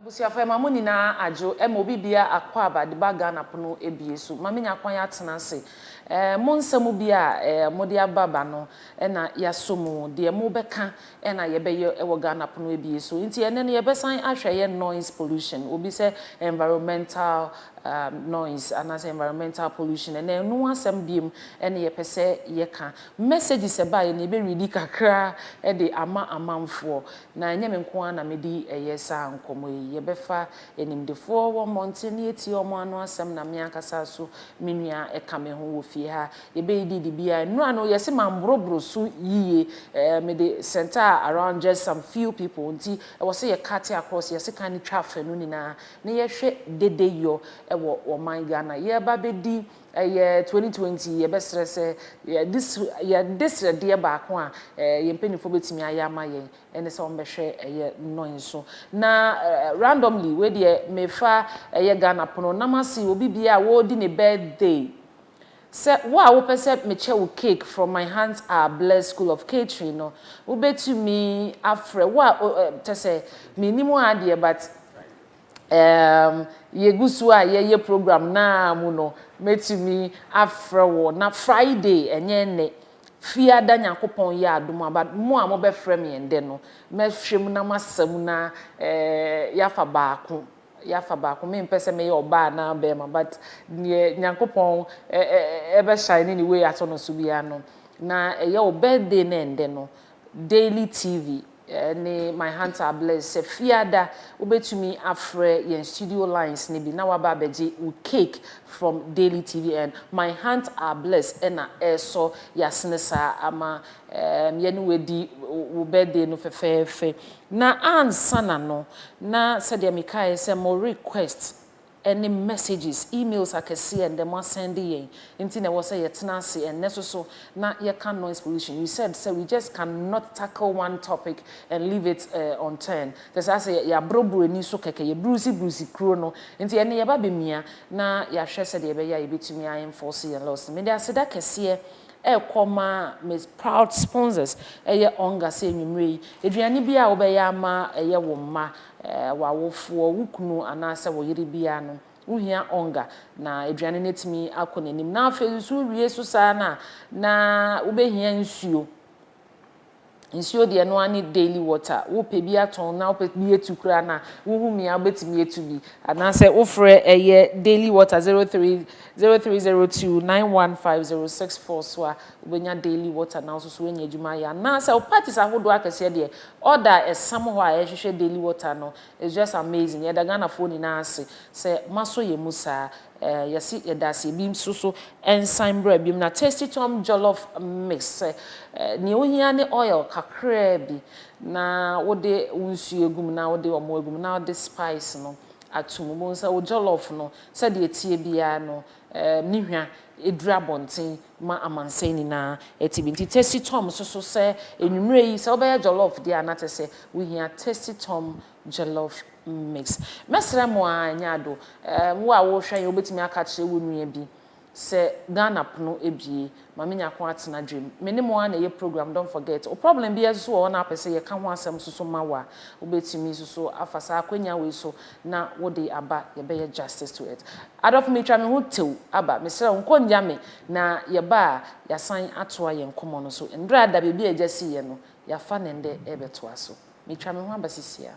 Abusuafo ɛma mo nyinaa adwo ɛma obi biaa akwaaba de ba Ghana pono abie so ma menya kwan atena ase ɛɛ mo nsɛm biaa ɛɛ mo de aba ba no ɛna yasɔ mu deɛ mo bɛka ɛna yɛbɛyɛ ɛwɔ Ghana pono abie so nti ɛnɛ no yɛbɛsan ahwɛ ɛyɛ noise pollution obi sɛ environmental ɛɛm noise anaasɛ environmental pollution ɛnɛ ɛno asɛm biom ɛna yɛpɛ sɛ yɛka messages ɛbaeɛ no yɛbɛ readi kakra ɛde ama amanfoɔ Na ɛnyɛ me nko ara na medi ɛyɛ saa nkɔmmɔ yi. Yɛbɛfa animdefoɔ wɔ mmɔnten na yɛatie wɔn ano asɛm na me ankasa nso me nua ka me ho wɔ fie ha. Yɛbɛdidi dibea. Nnura no, yɛse mamboroboro so yiye. Ɛɛ, mede centre around just some few people nti ɛwɔ sɛ yɛcute across, yɛse kan no twa afanu nyinaa na yɛhwɛ dedeyɔ wɔ ɔman Ghana. Yɛreba abɛdi Ɛyɛ twenty twenty yɛbɛsrɛ sɛ yɛde srɛdeɛ baako a yɛn mpaninfoɔ bɛtumi ayɛ ama yɛn ɛne sɛ wɔbɛhwɛ ɛyɛ nnɔn nso na randomly wei deɛ mefa ɛyɛ Ghana pono na mase obi biara a wɔredi ne birthday sɛ wo a wopɛ sɛ mekyɛ wo cake from my hands are blessed school of catering no wobɛtumi afrɛ wo a kyɛsɛ mennim wo ara deɛ but Erm, yegu so a yɛyɛ program no ara mu no, mɛtumi afrɛ wo na Friday, ɛnyɛ nnɛ, Fiada Nyankopɔn yɛ adom a, but mo a mobɛfrɛ me ɛndɛ no, mɛhwɛ mu na masa mu na erm, yɛafa baako, yɛafa baako. Mempɛ sɛ meyɛ ɔbaa anaa barima, but deɛ Nyankopɔn ɛ-ɛ-ɛ-ɛbɛ shine ne way ato no so biara no, na ɛyɛ wo birthday no ɛndɛ no, Daily TV, ne My Heart Are Blessed. Sɛ Fiada, wobɛtumi afrɛ yɛn studio lines no bi na woaba abɛgye wo cake from Daily TV and My Heart Are Blessed na ɛresɔ yasene saa ama yɛne wo adi wo birthday no fɛfɛɛfɛ. Na ansana no, na sɛdeɛ mekaeɛ sɛ mo request ɛne messages, emails akɛseɛ a ɛndɛ mo asɛnde yɛn nti na ɛwɔ sɛ yɛtena ase ɛnnɛ so so na yɛka noise pollution. You said sɛ we just can not tackle one topic and leave it eh unturned. Kyerɛ saa sɛ yɛabrobro ani so kɛkɛ, yɛbrusi brusi kuro no nti ɛnnɛ yɛba bɛmia na yɛahwɛ sɛdeɛ ɛbɛyɛ a yɛbɛtumi a enforce yɛn laws no. Mede aseda kɛseɛ rekɔ ma me proud sponsors ɛyɛ Onga sɛ anwummerɛ yi aduane biara a wobɛyɛ ama ɛyɛ wo mma w'awofoɔ, wo kunu anaasɛ wo yere biara no, wohia ɔnga na aduane no atumi akɔ n'anim. Na afei nso wowie so saa no a, na wobɛhia nsuo. Nsuo deɛ ɛno ara ne daily water. Wopɛ bi atɔn na wopɛ bi atu koraa no a, wohu mia wobɛtumi atu bi. Anaasɛ wofrɛ ɛyɛ daily water 03 0302 915064 so a, wobɛnya Daily Water na wo nso so woanya adwuma ayɛ anaasɛ wo parties ahodoɔ akɛseɛ deɛ order a ɛsam hɔ a ɛhwehwɛ Daily Water no is just amazing yɛda Ghanafoɔ nyinaa ase sɛ moasɔ yɛn mu saa eh, yɛse yɛda ase ebi nso so nsan bra biom na Tasty Tom Jollof Mix sɛ eh, nea ohia ne oil kakraa bi na wode wo nsuo agu mu na wode ɔmo agu mu na wode spice no ato mu bohu sɛ wo jollof no sɛdeɛ ɛteɛ biara no ne hwa duru abɔnten ma amansan nyinaa te bi. Nti Tasty Tom susu sɛ anwumerɛ yi sɛ wobɛyɛ jollof deɛ a na kyerɛ sɛ wohia Tasty Tom jollof mix. Mɛsrɛ mo aa ɛnyɛ ado, wo a wohwɛ yɛn wobɛtumi aka akyerɛ wo nua bi sɛ Ghana pono abue Ma menya kwan atena dwam. Me ne mo ara na ɛyɛ program don't forget. Wo problem biara nso so wɔ hɔ na apɛ sɛ yɛka ho asɛm nso so ma wo a, wobɛtumi nso so afa saa akwanya wei so na wode aba yɛbɛyɛ justice to it. Adɔfo metwa me ho tew aba. Mesrɛ wo nkɔ nnyaw me na yɛba a yɛasan atoa yɛn nkɔmmɔ no so. Nnora ada baabi a agya siiɛ no, yɛafa no ɛnnɛ rebɛtoa so. Metwa me ho aba seesei ara.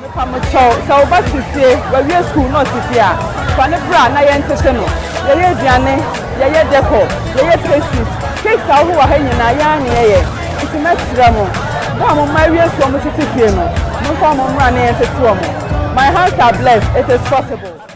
Mepa mo kyɛw, sɛ wo ba te fie, wawie sukuu na ɔte fie a, fa no bra na yɛntete no. Yɛyɛ aduane, yɛyɛ decor, yɛyɛ pastries, cakes a wohu wɔ ha nyinaa, yɛn ara na yɛyɛ. Nti mɛsrɛ mo, bere a mo mma awie sukuu a wɔtete fie no, momfa wɔn mmra na yɛntete wɔn. My hands are blessed, it is possible.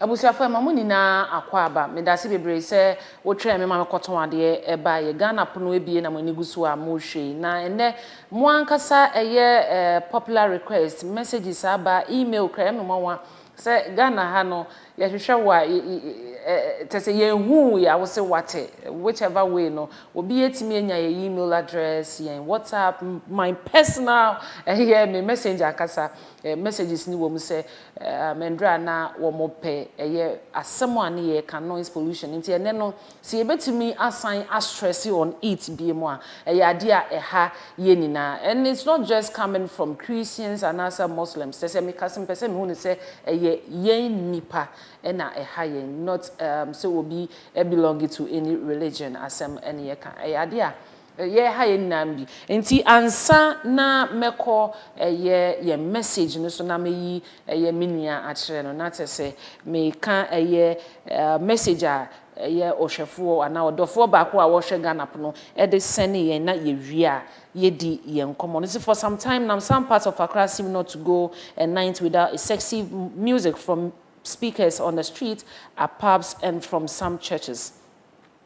Abusuafo ɛma mo nyinaa akwaaba. Medase bebree sɛ wo twɛɛ me ma me kɔtɔn adeɛ baeɛ. Ghana pono abie na mo ani gu so a mo rehwɛ yi. Na ɛnɛ mo ankasa ɛyɛ popular request, messages aba, email kura ɛyɛ me nwanwa sɛ Ghana ha no yɛhwehwɛ wo a kyerɛ sɛ yɛnhuu wo ya wo se wate which ever way no obi atumi anya yɛ email address, yɛn WhatsApp, my personal ɛyɛ me messenger ankasa messages no wɔ mu sɛ Mmerɛ a na wɔpɛ ɛyɛ asɛm a ne yɛka noise pollution nti ɛnɛ no sɛ yɛbɛtumi asan a stress on it biom a ɛyɛ adeɛ a ɛha yɛn nyinaa and it's not just coming from Christians anaasɛ Muslims sɛ sɛ meka sɛ mepɛ sɛ mehu no sɛ ɛyɛ yɛn nnipa na ɛha yɛn not sɛ obi belong to any religion asɛm ne yɛka ɛyɛ adeɛ a Yɛ ha yɛn nyinaa bi. Nti ansa na mɛkɔ ɛyɛ yɛn message no so na mɛyi ɛyɛ me nua akyerɛ no na kyerɛ sɛ meka ɛyɛ message a ɛyɛ ɔhwɛfoɔ anaa ɔdɔfoɔ baako a ɔhwɛ Ghana pono de sɛne yɛn na yɛwie a yɛdi yɛn nkɔmmɔ no. Nti for some time nam some parts of Accra seem not to go a night without a sexy music from speakers on the street, a pubs and from some churches.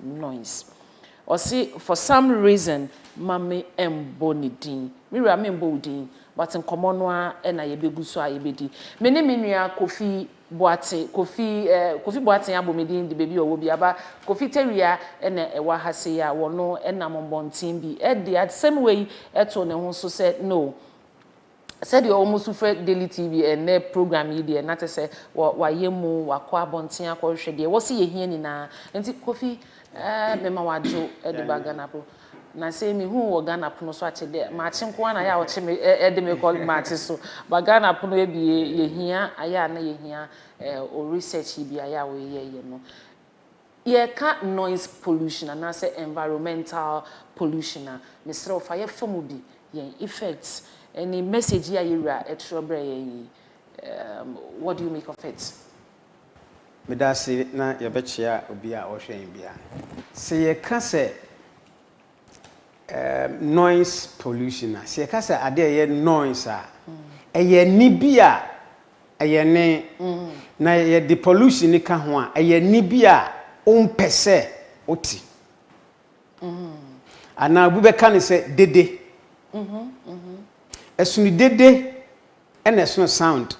noise ɔse for some reason ma me mbɔ ne din me wura me mbɔ wo din but nkɔmɔ no ara na yɛ bɛ gu so a yɛ bɛ di me ne me nua kofi boate kofi eh kofi boaten abɔ me din de baabi ɔwɔ bi aba kofi tawia na ɛwɔ aha sei a wɔno nam mbɔnten bi de asɛm wei to ne ho so sɛ no Sɛdeɛ wɔn su frɛ Daily TV ɛnnɛ program yi deɛ na kyerɛ sɛ wayɛ mu, wakɔ abɔnten akɔhwehwɛ deɛ wɔse yɛhia nyinaa. Nti Kofi eh mema wo adwo de ba Ghana po. Na sei mehu wo wɔ Ghana pono so akye dɛ makye nko ara na ayɛ a wɔkye me eh de me kɔ makye so. But Ghana pono abue yɛhia ayɛ a na yɛhia eh wo research yi bi ayɛ a woyɛeɛ no. Yɛreka noise pollution anaasɛ environmental pollution a, mesrɛ wo fa yɛfa mu bi, yɛn effects ne message yi a yɛn Wura ɛtwerɛ brɛɛ yɛn yi, what do you make of it? Meda ase na yɛbɛkyea obi a ɔrehwɛ yɛn biara. Sɛ yɛka sɛ Noise pollution a, sɛ yɛka sɛ adeɛ a ɛyɛ noise a, ɛyɛ nne bi a ɛyɛ nne, na yɛde pollution no ka ho a, ɛyɛ nne bi a wompɛ sɛ wote. Anaa obi bɛka no sɛ dede. Ɛsono dede na ɛsono sound.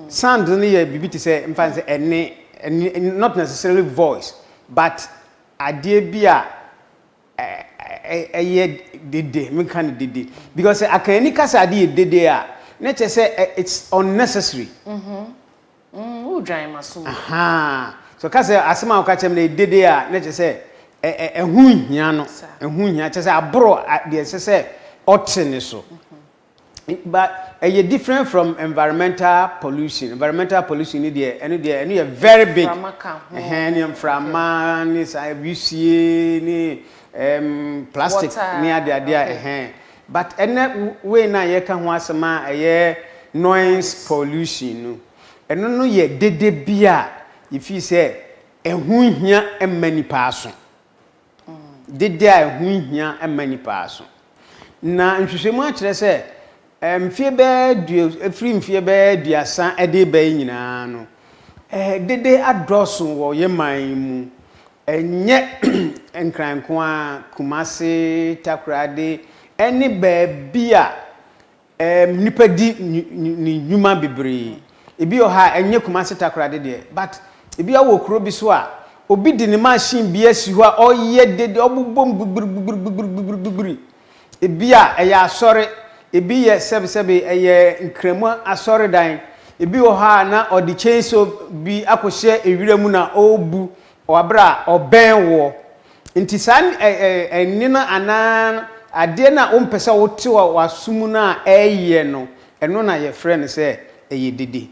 Sound no yɛ biribi te sɛ, mfa no sɛ ɛnne, not necessarily voice, but. adeɛ bi a ɛyɛ dede menka no dede because akanni ka sɛ ade yɛ dede a na kyerɛ sɛ it's unnecessary. Mhm. Mm, wodwan maso mu. Ahaa. So ka sɛ asɛm a woka kyerɛ me no yɛ dede a na kyerɛ sɛ ɛho nhia no. Ɛho nhia kyerɛ sɛ aboro deɛ ɛsɛ sɛ ɔte ne so. but ɛyɛ different from environmental pollution environmental pollution ni deɛ ɛno deɛ ɛno yɛ very big ɛhɛn ne mframa ne saa wisie ne ɛɛm plastic ne ade ade a ɛhɛn but ɛnɛ wei na yɛka ho asɛm a ɛyɛ noise pollution no ɛno no yɛ dede bi a yɛfii sɛ ɛho hia mma nipa aso dede a ɛho nhia mma nnipa aso. Na nhwehwɛmu akyerɛ sɛ mfeɛ bɛyɛ dua ɛfiri mfeɛ bɛyɛ aduasa ɛde reba yi nyinaa no dede adɔɔso wɔ yɛ man yi mu ɛnyɛ nkran nko ara kumase takoradi ɛne baabi a Nnipa di ne nnwuma bebree. Ebi wɔ hɔ a ɛnyɛ Kumasi Takoradi deɛ but ebi a wowɔ kuro bi so a, obi de ne machine bi asi hɔ a ɔyɛ dede, ɔbobom gbigbirigbigbirigbigbirigbigbiri. Ebi a ɛyɛ asɔre, ebi yɛ sɛbesɛbe ɛyɛ Nkramu asɔredan. Ebi wɔ hɔ a na ɔde chainsaw bi akɔhyɛ ewira mu na ɔrebu Wɔ bere a ɔbɛn woɔ. Enti saa nne no anaa adeɛ no a wompɛ sɛ wote wɔ w'aso mu no a ɛreyɛ no, ɛno na yɛfrɛ no sɛ ɛyɛ dede.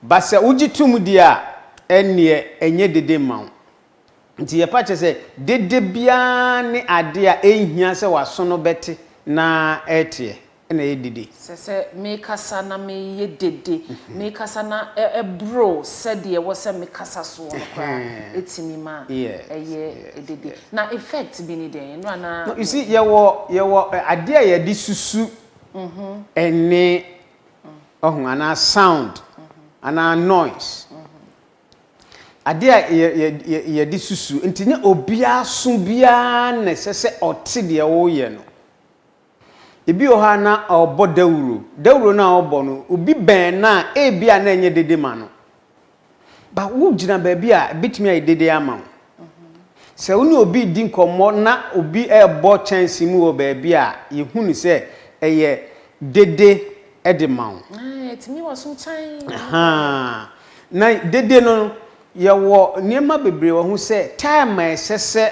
Ba sɛ wogye tom deɛ a, ɛnneɛ ɛnyɛ dede mma wo. Enti yɛpa kyɛ sɛ dede biara ne adeɛ a ɛnhia sɛ w'aso no bɛte na ɛreteɛ. na ɛyɛ dede. Sɛ sɛ mekasa na meyɛ dede, mekasa na ɛboro sɛdeɛ ɛwɔ sɛ mekasa soɔ no koraa a, Ɛhɛn. ɛtumi ma Yes, ɛyɛ yes, dede. yes. Na effect bi ne dɛn? Ɛno a na No, you me. see, yɛwɔ, yɛwɔ ɛ, adeɛ a yɛde susu nne, wahu, anaa sound, anaa noise. Adeɛ a yɛ, yɛ, yɛ, yɛde susu. Nti nyɛ obiara aso biara na ɛsɛ sɛ ɔte deɛ woreyɛ no. Ebi wɔ hɔ a na ɔrebɔ dawuro. Dawuro no a ɔrebɔ no, obi bɛn no a, ebia na ɛnyɛ dede ma no. But wogyina baabi a, ebetumi ayɛ dede ama wo. Sɛ wo ne obi redi nkɔmmɔ na obi rebɔ kyɛnse mu wɔ baabi a, yehu no sɛ ɛyɛ dede de ma wo. Ɛtumi wɔ so kyan. Ahaa. Na dede no, yɛwɔ nneɛma bebree wɔ ho sɛ time a ɛsɛ sɛ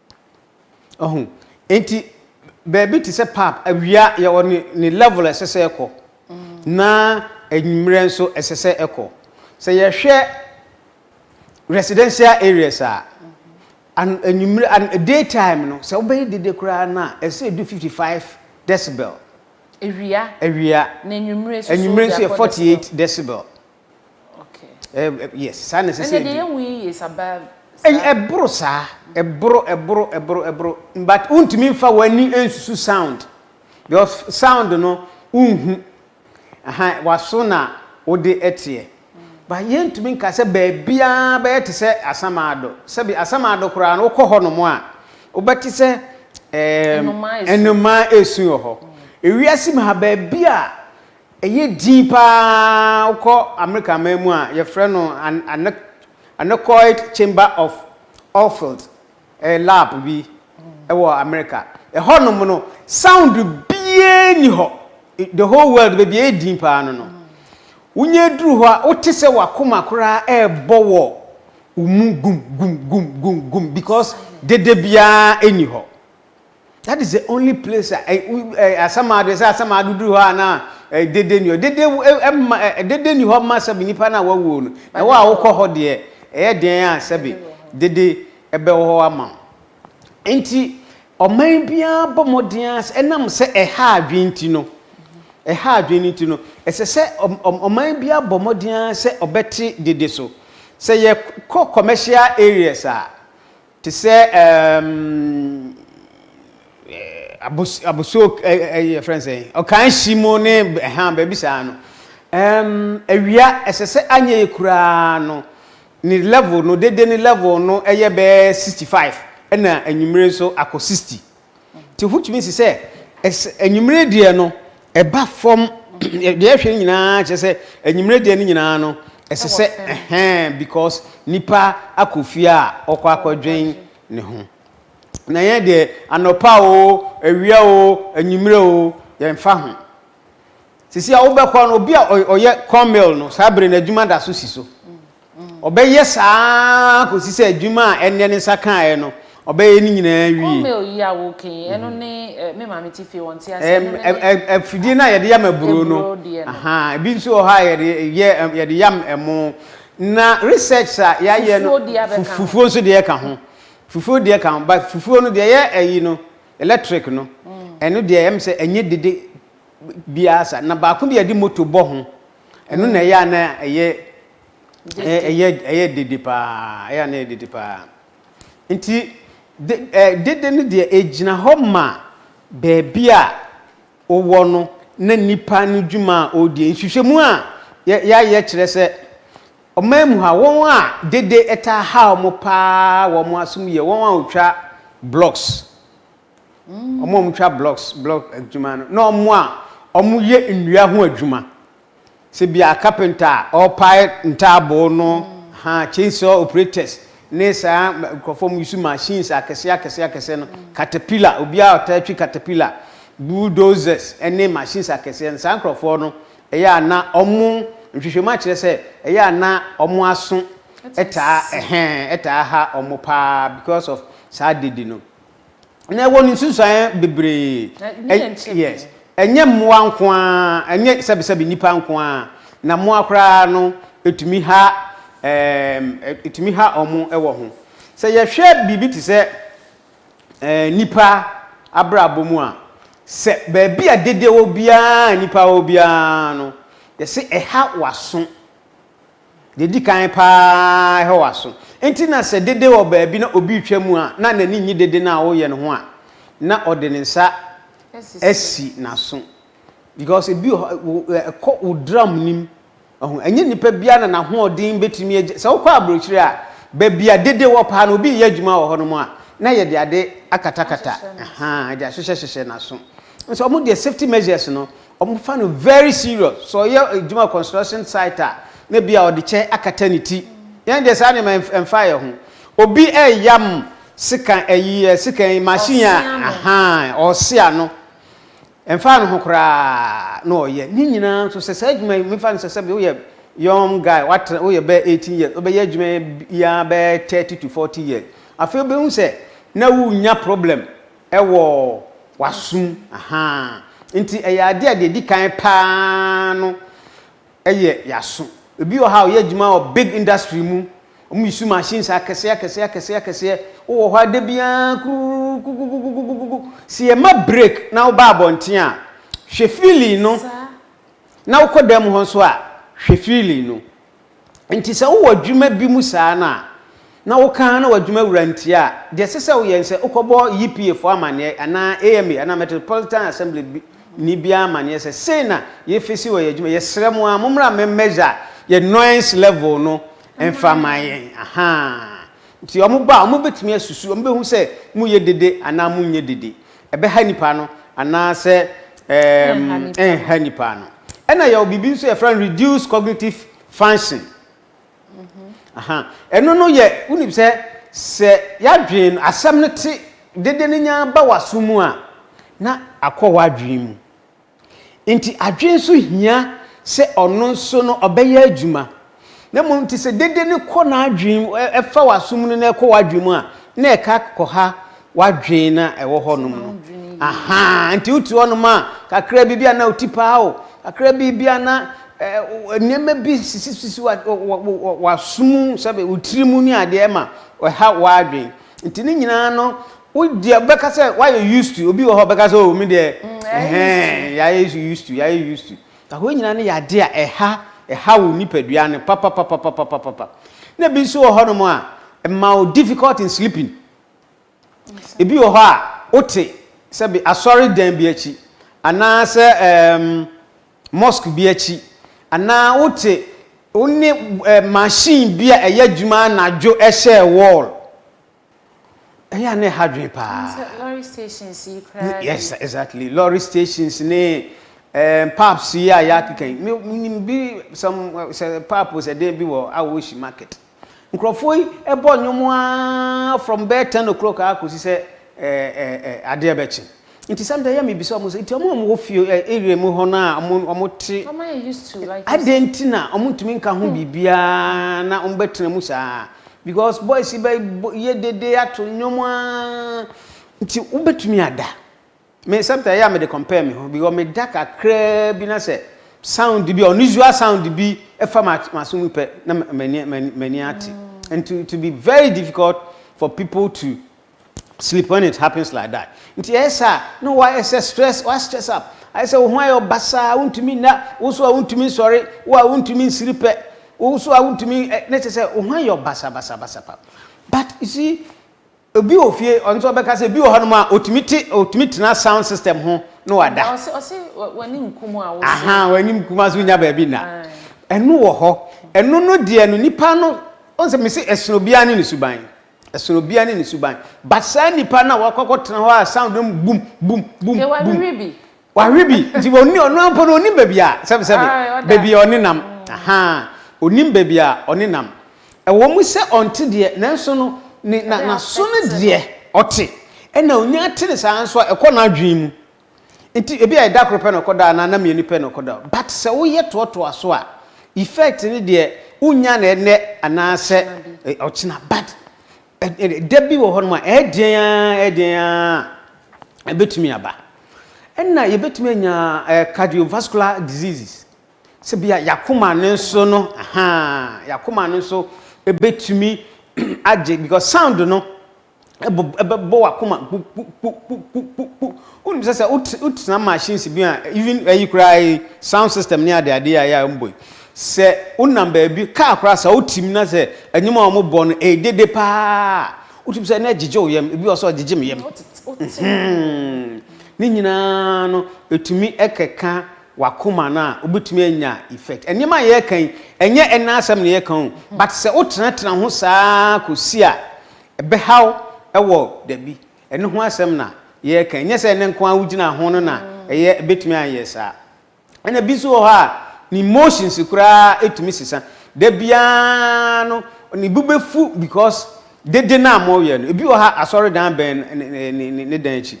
Wahu? Enti, baabi te sɛ pub, awia yɛwɔ ne, ne level a ɛsɛ sɛ ɛkɔ, na anwummerɛ nso ɛsɛ sɛ ɛkɔ. Sɛ yɛhwɛ residential areas a, an, anwummerɛ, an, day time no, sɛ wobɛyɛ dede koraa no a, ɛsɛ sɛ ɛdu 55 decibel. Awia. Awia. Na anwummerɛ nso so, Anwummerɛ nso yɛ 48 decibel. Okay. Eh, eh, yes, saa na ɛsɛ sɛ ɛdi. Ɛnna deɛ yɛ sa baa saa. Ɛboro saa, ɛboro, ɛboro, ɛboro, ɛboro, but wontumi nfa w'ani nsusu sound because sound no wonhu, aha, w'aso na wode ɛteɛ. But yɛntumi nka sɛ baabiara bɛyɛ te sɛ Asamaado, sɛbi Asamaado koraa no wokɔ hɔ nom a, wobɛte sɛ ɛɛm, nnomaa esu wɔ hɔ. Ewiase mu ha baabi a Ɛyɛ dinn paa wokɔ Amerika man mu a yɛfrɛ no Anechoic Chamber of Ophelt, ɛyɛ lab bi wɔ Amerika. Ɛhɔ nom no sound biaa nni hɔ, the whole world baabi a ɛyɛ dinn paa no no. Wonya duru hɔ a wote sɛ w'akoma koraa ɛɛbɔ wɔ wo mu gum gum gum gum gum because dede biaa nni hɔ. That is the only place a eh, eh, asamado sɛ asamado duru hɔ a na eh, dede ni hɔ dede eh, eh, ma, eh, dede ni hɔ ma sɛbi nipa na wawuo no na wɔ a wokɔ hɔ deɛ ɛyɛ den a sɛbi dede ɛbɛwɔ hɔ ama wo nti ɔman biara bɔ mmɔden ara sɛ ɛnam sɛ ɛha adwene nti no ɛha adwene no nti no ɛsɛ sɛ ɔm- ɔm- ɔman biara bɔ mmɔden ara sɛ ɔbɛte dede so sɛ yɛkɔ commercial areas a Te sɛ ɛɛm abos abosuo ɛ ɛ yɛfrɛ no sɛn ɔkan hyi mu ne ɛha baabi saa no ɛɛm awia ɛsɛ sɛ anyɛ yɛ koraa no ne level no dede ne level no ɛyɛ bɛɛ sixty five ɛna anwummere nso akɔ sixty. Nti wotumi si sɛ anwummerɛ deɛ no ɛba fam deɛ ɛhwɛ no nyinaa kyerɛ sɛ anwummerɛ deɛ no nyinaa no ɛsɛ sɛ ɛhɛn because nipa akɔ fie a ɔkɔ akɔdwen ne ho na yɛn deɛ anɔpa o awia o anwummerɛ o yɛmfa ho sisi a wobɛkɔ no obi a ɔyɛ corn mill no saa bere no adwuma da so si so Ɔbɛyɛ saa ara kɔsi sɛ adwuma a ɛnnɛ ne nsa kaeɛ no, ɔbɛyɛ ne nyinaa awie. Corn meal yi a woka yi, ɛno ne me maame te fie wɔnte aseɛ. Ɛno ne ne. Afidie no a yɛde yam aburo no. Aburo deɛ no. Ebi nso wɔ hɔ a yɛde yɛ yɛde yam ɛmo. Na research a yɛayɛ no. Fufuo deɛ bɛka ho. Fufuo nso deɛ ka ho. Fufuo deɛ ka ho but fufuo no deɛ ɛyɛ ɛyi no electric no. Ɛno deɛ ɛyɛ me sɛ ɛnyɛ dede biara saa. Na baako bi a yɛde motor bɔ ho. Ɛno na ɛyɛ a na ɛyɛ ɛyɛ ɛyɛ dede paa ɛyɛ a na ɛyɛ dede paa nti de ɛɛ dede no deɛ egyina hɔ ma baabi a wowɔ no na nipa no dwuma a ɔredie nhwehwɛmu a yɛ yɛayɛ kyerɛ sɛ ɔman mu ha wɔn a dede ɛtaa ha wɔn paa wɔn asom yɛ wɔn a wɔtwa blocks. wɔn a wɔtwa blocks block adwuma no na wɔn a wɔyɛ nnua ho adwuma sɛ bi a carpenter a ɔrepae ntaaboo no ha chainsaw operators ne saa nkurɔfoɔ mu yusu machines akɛseɛ akɛseɛ akɛseɛ no caterpillar obiara a ɔtaa twi caterpillar bulldozers ne machines akɛseɛ no saa nkurɔfoɔ no ɛyɛ a na wɔn nhwehwɛmu akyerɛ sɛ ɛyɛ a na wɔn aso ɛtaa ɛhɛn ɛtaa ha wɔn paa because of saa dede no. na ɛwɔ no nsunsuaeɛ bebree. Yes. Ɛnyɛ mmoa nko ara, ɛnyɛ sɛbisɛbi nnipa nko ara, na mmoa koraa no ɛtumi ha ɛɛm ɛtumi ha wɔn wɔ ho. Sɛ yɛhwɛ biribi te sɛ ɛɛ nnipa abrabɔ mu a, sɛ baabi a dede wɔ biara a nnipa wɔ biara no, yɛse ɛha w'aso. Deɛ ɛdi kan paa hwɛ w'aso. Enti na sɛ dede wɔ baabi na obi retwa mu a, na n'ani nnye dede no a woreyɛ no ho a, na ɔde ne nsa asi n'aso. Because ebi wɔ hɔ, ɛkɔ wo drum no mu. Ɔho, ɛnyɛ nipa biara na n'ahoɔden bɛtumi agya. Sɛ wokɔ aburokyire a, baabi a dede wɔ paa no, obi reyɛ adwuma wɔ hɔnom a, na yɛde ade akatakata, ɛde ahyehyɛhyehyɛ n'aso. Nso wɔn deɛ safety measures no, Ɔmo fa no very serious. Sɛ ɔyɛ adwuma construction site a na bi a ɔde kyɛ akata ne ti. Yɛn deɛ saa nneɛma yi ɛmfa yɛn ho. Obi ɛɛyam sekan ɛyi ɛ sekan yi machine a ahaa ɔɔse ano. Ɛmfa ne ho koraa na ɔɔyɛ. Ne nyinaa nso sɛ saa adwuma yi me fa no sɛ sɛbi woyɛ young guy w'atra woyɛ bɛɛ eighteen years wobɛyɛ adwuma yi ara bɛɛ thirty to forty years. Afei wobɛhu sɛ na wo nnya problem Ɛwɔ w'asom, ahaa. Nti ɛyɛ adeɛ a deɛ ɛdi kan paa no yɛ y'aso. Ɛbi wɔ ha a ɔyɛ adwuma wɔ big industry mu, wɔn use machines akɛseɛ akɛseɛ akɛseɛ akɛseɛ, wo wɔ hɔ ara da biara kurukukukukukukukukuku, sɛ yɛ ma break na wo ba abɔnten a, hwɛ feeling no, na wo kɔ dan mu hɔ nso a, hwɛ feeling no. Enti sɛ wowɔ adwuma bi mu saa no a, na woka ara na w'adwuma wura ntie a, deɛ ɛsɛ sɛ woyɛ ne sɛ wokɔbɔ YPA foɔ amanneɛ anaa AMA anaa Metropolitan Assembly ni biara amanneɛ sɛ sei na yɛfesi wɔ yɛn adwuma. Yɛsrɛ mo ara mommra mmɛ measure yɛn noise level no mfa mma yɛn. Ahaa. Nti wɔba a, wɔbɛtumi asusu, wɔbɛhu sɛ moyɛ dede anaa monyɛ dede. Ɛbɛha nnipa ano anaasɛ ɛrenha nnipa ano. Ɛna yɛwɔ biribi nso yɛfrɛ no reduced cognitive function. Mhm. Ɛno no yɛ wonim sɛ sɛ yɛadwen asɛm no te dede no nyaa ba w'aso mu a na akɔ w'adwene mu. Enti adwene nso hia sɛ ɔno nso no ɔbɛyɛ adwuma. Na mmom te sɛ dede no kɔ n'adwene mu, ɛfa w'asom no na ɛkɔ w'adwene mu a, na ɛka kɔha w'adwene na ɛwɔ hɔnom no. Aha, nti wote hɔnom a, kakra bi bi a na oti paa o, kakra bi bi a na nneɛma bi sisisisi w'asom, sɛbe wo tiri mu ne adeɛ ma ɛha w'adwene. nti ne nyinaa no wodeɛ bɛka sɛ woayɛ used to obi wɔ hɔ bɛka sɛ o oh, me deɛ mm, ɛhɛn yɛayɛ used to yɛayɛ used to ahoɔ nyinaa no yɛ adeɛ a ɛha ɛha wo nipadua no papapapapapapa na ebi nso wɔ hɔnom a ɛma wo difficult in sleeping ebi wɔ hɔ a wote sɛbi asɔre dan bi akyi anaasɛ ɛɛm. Um, mosque bi akyi, anaa wote wo ne eh, machine bi a ɛyɛ adwuma anadwo ɛhyɛɛ wall. Ɛyɛ a na ɛha dwen paa. Sɛ lorry stations yi koraa bi. Yes, exactly. Lorry stations ne eh, pubs yi a yɛakeka yi. Me- Menim bi, some, eh, sɛ pub sɛ dɛn bi wɔ Awoshi market. Nkurɔfoɔ yi bɔ nnwom aa from bɛyɛ ten o'clock aa kɔsi sɛ adeɛ bɛkye. Nti sometimes yɛ mebisa wɔn sɛ, nti wɔn a wɔwɔ fie area mu hɔ no a wɔn wɔte adɛn nti na wɔntumi nka ho biribiara na wɔbɛtena mu saa? Because boys yi bɛyɛ dede ato nnwom aa nti wobɛtumi ada. Me sometimes ɛyɛ a mede compare me ho because me da kakraa bi na sɛ sound bi unusual sound bi ɛfa m'aso mu pɛ na m'ani m'ani ate and to to be very difficult for people to sleep when it happens like that nti ɛyɛ saa na wɔayɛ sɛ stress wa stress up ayɛ sɛ wo ho ayɛ ɔbasaa wontumi nna wo so a wontumi nsɔre wo a wontumi nsiri pɛ wo so a wontumi ne kyɛ sɛ wo ho ayɛ ɔbasabasabasa pap but you see Obi wɔ fie ɔno nso ɔbɛka sɛ bi wɔ hɔnom a ɔtumi te ɔtumi tena sound system ho na wada. Ɔse ɔse w'anim kum a wosɔ. Ahaa w'anim kum a so nya baabi nna. Ɛno wɔ hɔ ɛno no deɛ no nipa no wohu sɛ mese ɛsono obiara ne ne suban ɛsono obiara ne ne suban but saa nipa no a wakɔ akɔ tena hɔ a sound no bum bum bum bum. Yɛwɔ awirie bi Wawe bi nti wɔnni ɔno ara mpo no ɔnim baabi a sɛbesɛbe baabi a ɔne nam ahaa ɔnim baabi a ɔne nam ɛwɔ mu sɛ ɔnte deɛ nanso no ne na n'aso no deɛ ɔte ɛna ɔnya ate ne saa nso a ɛkɔ n'adwene mu nti ebi a ɛda koro pɛ na ɔkɔda anaa na mmienu pɛ na ɔkɔda but sɛ woyɛ toɔtoa so a effect no deɛ wonya na ɛnɛ anaasɛ ɔkyena but Da bi wɔ hɔnom a, ɛyɛ den ara, ɛyɛ den ara a, ɛbɛtumi aba. Ɛna yɛbɛtumi anya eh, cardiovascular diseases. Sɛ bi a yakoma no nso no, aha, yakoma no nso ɛbɛtumi agye because sound no ɛbɛbɔ wakoma kpukpukpukpukpu. Wonim sɛ sɛ wotena machines bi a, even ɛyi koraa yi, sound system ne adeadeɛ a ɛyɛ a mbɔ yi, Sɛ wonam baabi, kaa koraa sɛ wote mu na sɛ nnwom a wɔbɔ no ɛyɛ dede paa a, wotumi sɛ na ɛgyegye wo yam. Ebi wɔ sɛ ɔgyegye me yam. Ne nyinaa no, ɛtumi keka w'akoma no a, wobɛtumi anya effect. Nneɛma a yɛreka yi, ɛnyɛ ɛnna asɛm na yɛreka o, but sɛ wotenatena ho saa kɔsi a, ɛbɛhaw wɔ dabi. Ɛno ho asɛm na yɛreka. Ɛnyɛ sɛ ɛnnɛ nko ara wogyina ho no na ɛyɛ, ɛbɛtumi anyɛ saa. Ɛna bi nso wɔ hɔ a ne emotions koraa tumi sesa. Da biara no ne bo bɛfu because dede no a moyɛ no. Ebi wɔ ha asɔredan bɛn ne dan akyi.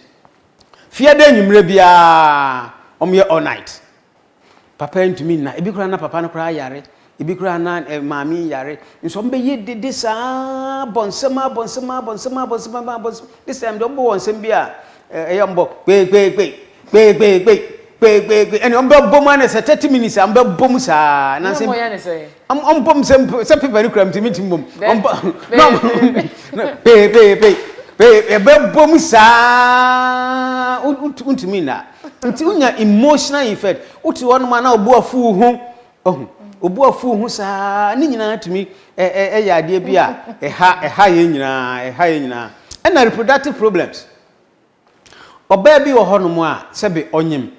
Fiada anwummerɛ biara wɔyɛ all night. Papa ntumi nna. Ebi koraa na papa no koraa yare. Ebi koraa na maame yi yare. Nso wɔn bɛyɛ dede saa bɔ nsɛm abɔ nsɛm abɔ nsɛm abɔ nsɛm abɔ abɔ nsɛm. This time deɛ wɔbɔ wɔn nsɛm bi a ɛyɛ wɔn bɔ kpeekpeekpe kpeekpeekpe kpeekpeekpe ɛna wɔn bɛbɔ mu anɛ sɛ thirty minutes a wɔn bɛbɔ mu saa. Na wɔn yɛ ne sɛ. Wɔn wɔn bɔ mu sɛ sɛ paper no kura mu ti mi ti mu bɔ mu. Wɔn bɔ na wɔn kpeekpeekpe kpeekpe ɛbɛbɔ mu saa wontumi nna nti wonya emotional effect wote hɔ nom a na obu afu ho. Wahu. Obu afuw ho saa ne nyinaa tumi yɛ adeɛ bi a ɛha ɛha yɛn nyinaa ɛha yɛn nyinaa. Ɛna reproductive problems. Ɔbaa bi wɔ hɔnom a sɛbe ɔnyem.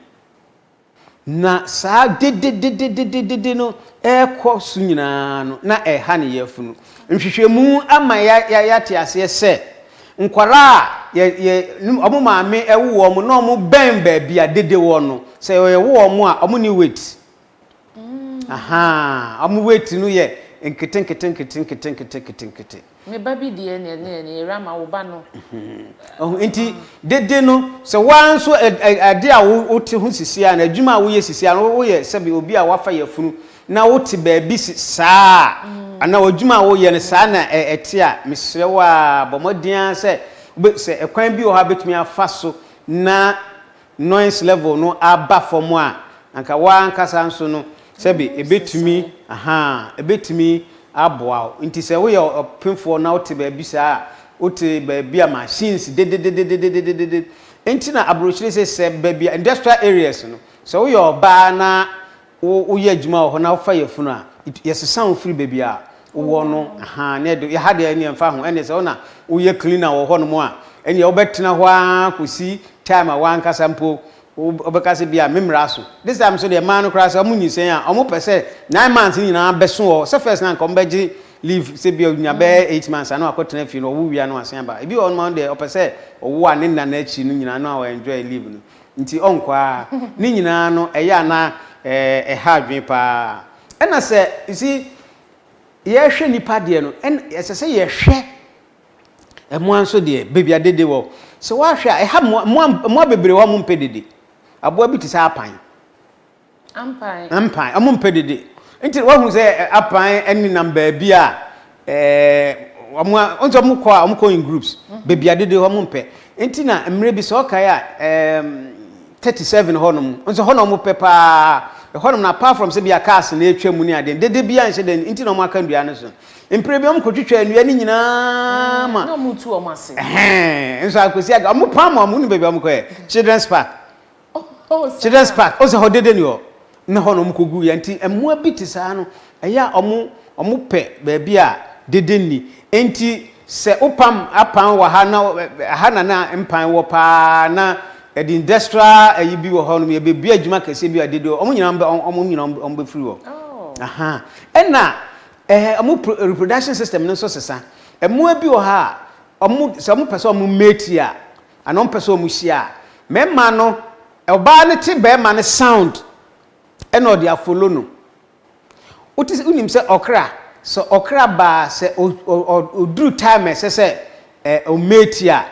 Na saa dedededededede no ɛrekɔ so nyinaa no na ɛha ne yafunu. Nhwehwɛmu ama yɛate aseɛ sɛ nkwadaa a yɛ yɛ wɔn maame ɛwo wɔn na wɔn bɛn baabi a dede wɔ no sɛ yɛwo wɔn a wɔn ni weight. Ahaa ɔmo weight no yɛ nketenkete nketenkete nketenkete nkete. Me ba bi deɛ neɛ neɛ neɛ yɛwura ma wo ba no. Ɔho nti dede no sɛ waa nso ade a wo te ho sisi a na adwuma a wo yɛ sisi a no wo yɛ sɛbi obi a wafa yɛ funu na wo te baabi saa a ana wo adwuma a wo yɛ no saa na ɛte a mesrɛ wo a bɔ mmɔden a sɛ sɛ ɛkwan bi wɔ hɔ a betumi afa so na noise level no aba fam a, anka wo ara ankasa nso no, sɛbe ɛbɛtumi, ahaa, ɛbɛtumi aboa wo. Nti sɛ woyɛ ɔpefoɔ na wote baabi saa a, wote baabi a machines dedededededededede, ɛnti na aburokyire se sɛ baabi a industrial areas no, sɛ woyɛ ɔbaa na Wo woyɛ adwuma wɔ hɔ na wofa yafunu a, it yɛsesa wo firi baabi a wowɔ no ahaa na ɛde yɛha deɛ ɛneɛ mfa ho ɛneɛ sɛ wo na woyɛ cleaner wɔ hɔ nom a ɛneɛ wobɛtena hɔ ara kɔsi time a w'ankasa mpo wo wobɛka sɛ bia me mmra so. This time nso deɛ mmaa no koraa sɛ wɔn nyinsɛn a wɔn pɛ sɛ nine months no nyinaa bɛso wɔ hɔ sɛ first no anka wɔn bɛgye leave sɛ bia ɔnya bɛyɛ eight months a na wakɔ tena fie no ɔwo wia na wasan aba ebi wɔ hɔ nom a ɔno deɛ ɔpɛ sɛ ɔwo a ne nna no akyi no nyinaa na ɔ enjoy leave no Nti ɔnkɔ ara. Ne nyinaa no, ɛyɛ a na ɛha adwene pa ara. Ɛna sɛ, you see, yɛrehwɛ nnipa deɛ no, ɛn, ɛsɛ sɛ yɛhwɛ mmoa nso deɛ, baabi a dede wɔ. Sɛ woahwɛ a, ɛha mmoa, mmoa, mmoa bebree wɔ hɔ a wɔmpɛ dede. Aboa bi te sɛ apan. Ampan. Ampan. Wɔmpɛ dede. Nti wahu sɛ apan nenam baabi a wɔn a, wɔn sɛ wɔn kɔ a, wɔn kɔ in groups. Baabi a dede hɔ wɔmpɛ. Nti na mmerɛ bi sɛ ɔkae a, ɛɛm, 37 hɔ nom, nso hɔ na wɔn pɛ paa. Ɛhɔ nom na apart from sɛ bi a cars na ɛretwa mu ne adeɛ, dede bi a nhyɛ da nti na wɔn aka nnua no so. Mprɛ bi wɔn kɔ twitwa nnua no nyinaa ma. Na wɔn tu wɔn ase. Ɛhɛn, nso akɔsi aga, wɔn paa ma wɔn, wonim baabi a wɔn kɔɛ? Children's park. children's park ɔsɛ hɔ dede ni hɔ ne hɔ na wɔn kɔ gu yɛ nti mmoa bi te saa no ɛyɛ a wɔn wɔn pɛ baabi a dede ni nti sɛ wopam apan wɔ ha na ha na na mpan wɔ paa na ɛde industrial ɛyi bi wɔ hɔ nom yɛbɛbia adwuma kɛseɛ bi a dede wɔn nyinaa wɔn nyinaa wɔn bɛfiri hɔ aha ɛna ɛɛ wɔn reproduction system no nso sesa mmoa bi wɔ ha a wɔn sɛ wɔn pɛ sɛ wɔn mate a Ana ɔmpɛ sɛ ɔmo hyia a. Mɛma no ɔbaa no te bɛɛma no sound ɛna ɔde afolo no. Wote wonim sɛ ɔkra sɛ ɔkra baa sɛ ɔduru time a ɛsɛ sɛ ɔmate a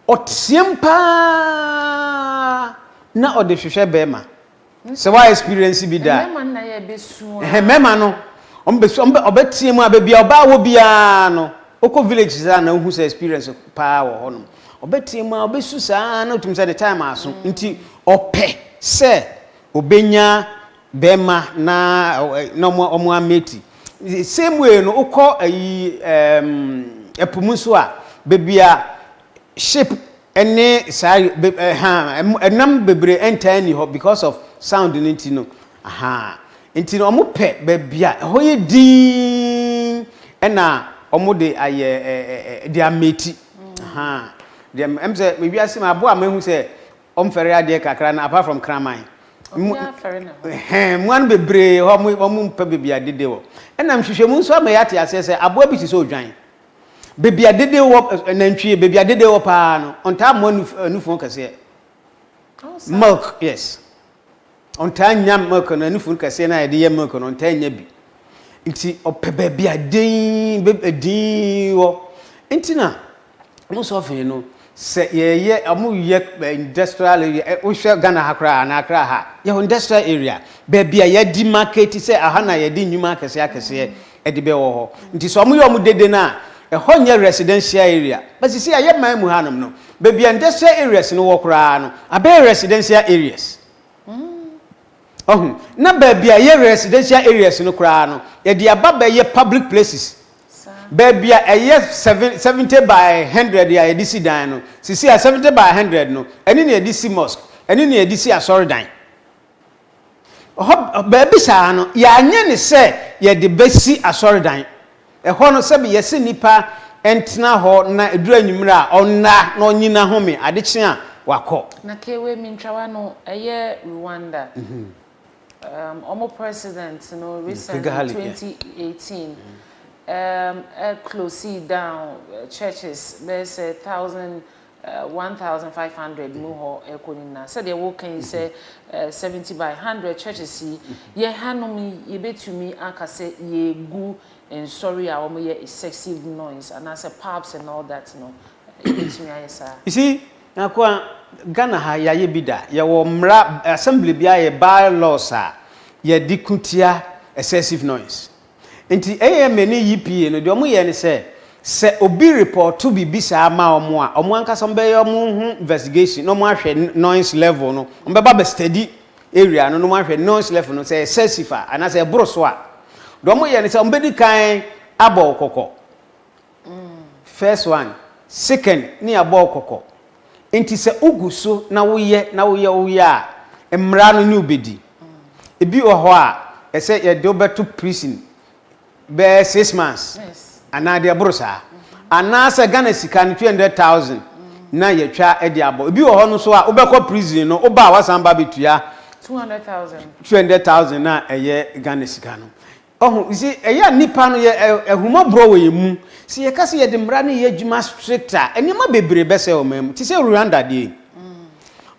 ɔteam paa na ɔde hwehwɛ bɛɛma. Sɛ wa experience bi da. Mmɛma no na yɛ bɛ su aa. Ɛhɛ mmɛma no ɔmo bɛ su ɔmo bɛ ɔbɛ tea mu aa bɛbi aa ɔbaa wɔ bi aa no okɔ village saa na ohu sɛ experience paa wɔ hɔ nom ɔbɛ tea mu aa ɔbɛ su saa aa na otum sɛ ne time aso nti ɔpɛ sɛ ɔbɛ nya bɛma na na ɔmo ɔmo a mate the same way no okɔ ayi ɛɛm ɛpo mu nso aa bɛbi aa ship. Ɛne saa be ɛhaa ɛmo ɛnam bebree ɛntaa nni hɔ because of sound no nti no ahaa nti no wɔn pɛ baabi a ɛhɔ yɛ dinn ɛna wɔn de ayɛ ɛɛ de ameti ahaa deɛ ɛm sɛ me wiase mu aboa a mehu sɛ wɔn fɛre adeɛ kakra no apart from kraman mu ɛhɛn mua no bebree hɔ wɔn wɔn mpɛ baabi a dede wɔ ɛna nhwehwɛmu nso ama yɛate aseɛ sɛ aboa bi te sɛ odwan. Baabi a dede wɔ eh, nantwie baabi a dede wɔ paa no ɔntaa mmoa nu eh, nufu kɛseɛ milk yes ɔntaa nya milk no nufu kɛseɛ no a yɛde yɛ milk no ɔntaa nya bi nti ɔpɛ baabi a din bɛ eh, din wɔ nti na mo sɔfin no. Sɛ yɛyɛ ɔmo yɛ industrial area ɛ wohwɛ Ghana ha koraa anaa Accra ha yɛwɔ industrial area baabi a yɛadi market sɛ aha na yɛde nnwuma akɛseɛ akɛseɛ ɛde bɛ wɔ hɔ nti sɛ ɔmo yɛ ɔmo dede no a ɛhɔ nyɛ residential area but sisi a yɛ man mu ha nom no baabi a industrial areas no wɔ koraa no abɛyɛ residential areas. Wahu? Na baabi a ɛyɛ residential areas no koraa no, yɛde aba bɛyɛ public places. Baabi a ɛyɛ seven, 70 by 100 a yɛde si dan no, sisi a 70 by 100 no, ɛne na yɛde si mosque, ɛne na yɛde si asɔredan. Hɔ, baabi saa no, yɛanyɛ ne sɛ yɛde bɛsi asɔredan. Ɛhɔ no, sɛbe yɛse nipa ntena hɔ na ɛduru anwumerɛ a, ɔnna na ɔnyina home, ade kye a, wakɔ. Na kei wei mentwawa no, ɛyɛ Rwanda, um wɔn president no recently, Kigali, yeah. 2018, um ɛ closee down churches bɛyɛ sɛ thousand one thousand five hundred mu hɔ ɛkɔ ne nyinaa sɛdeɛ woka yi sɛ seventy by hundred churches yi yɛn hanom yi yɛbɛtumi aka sɛ yɛgu nsɔre a wɔyɛ excessive noise anaasɛ pubs and all that no yɛbɛtumi ayɛ saa. You see, Nyakoa, Ghana ha yɛayɛ bi da yɛwɔ mmara assembly bi ayɛ by laws a yɛde ko tia excessive noise. Enti AMA ne EPA no, deɛ wɔyɛ ne sɛ, sɛ obi repɔɔto biribi saa ma wɔn a, wɔn ankasa wɔbɛyɛ wɔn ho investigation na wɔahwɛ noise level no. Wɔbɛba abɛ study area no na wɔahwɛ noise level no, sɛ ɛyɛ excessive a, anaasɛ ɛboro so a, deɛ wɔyɛ ne sɛ, wɔbɛdi kan abɔ wo kɔkɔ. First one, second ne yɛabɔ wo kɔkɔ. Nti sɛ wo gu so na wo yɛ na wo yɛ wo yɛ a, mmara no ne wo bɛdi. Ebi wɔ hɔ a, ɛsɛ yɛde wo bɛto prison bɛyɛ six months anaa deɛ ɛboro saa. Anaa sɛ Ghana sika no two hundred thousand na yɛatwa de abɔ. Ebi wɔ hɔ no nso a, wo bɛkɔ prison no, wo ba a, woasan ba abɛtua two hundred thousand no a ɛyɛ Ghana sika no. Ɔho, ntsi yɛ a nyimpa no yɛ ahummɔborɔ wɔ yɛn mu, sɛ yɛka sɛ yɛde mmara no yɛ adwuma strict a, nneɛma bebree bɛsɛe ɔman mu. Te sɛ Rwanda deɛ yi,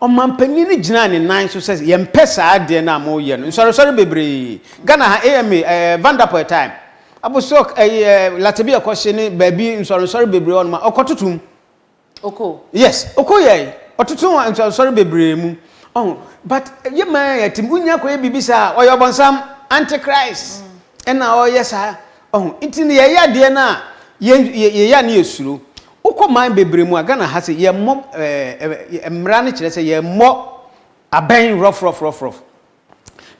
ɔmanpanin no gyinaa ne nan so sɛ yɛmpɛ saa adeɛ no a moreyɛ no. Nsɔresɔre bebree, Ghana ha, AMA, ɛɛ, Van der Poel time, Abosok, ɛyi ɛɛ, Latebia kɔhye ne baabi nsɔrensɔre bebree hɔ nom a, ɔkɔtoto mu. Oko. Yes, Oko yɛe. Ɔtoto wɔ nsɔresɔre bebree mu. Ɔho, but yɛ maa yɛte mu, wonya kɔyɛ biribi saa a, ɔyɛ ɔbɔnsam, antichrist, ɛna ɔyɛ saa. Ɔho, nti no yɛyɛ adeɛ no a, yɛyɛ a ne yɛ suro. Wokɔ man bebree mu a, Ghana ha se, yɛ mmɔ, eh, eh, mmra no kyerɛ sɛ yɛ mmɔ abɛn rough, rough, rough, rough.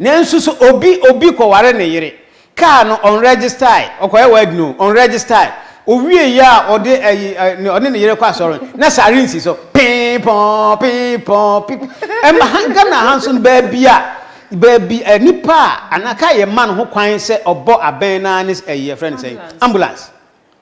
Nanso so obi obi kɔware ne yere, kaa no ɔnrɛgyistae, ɔkɔyɛ wedding o, ɔnrɛgyistae, owiei a ɔde ayi ɛ, ne- ɔne ne yere kɔ asɔre, na sare nsi so. Pee pɔn, pee pɔn, pip. Ɛma ha Ghana ha nso no, baabi a, baabi ɛ, nipa a, anaa kaa yɛmma no ho kwan sɛ ɔbɔ abɛn no ara ne s- ɛyi, yɛfrɛ no sɛn? Ambulance. Ambulance.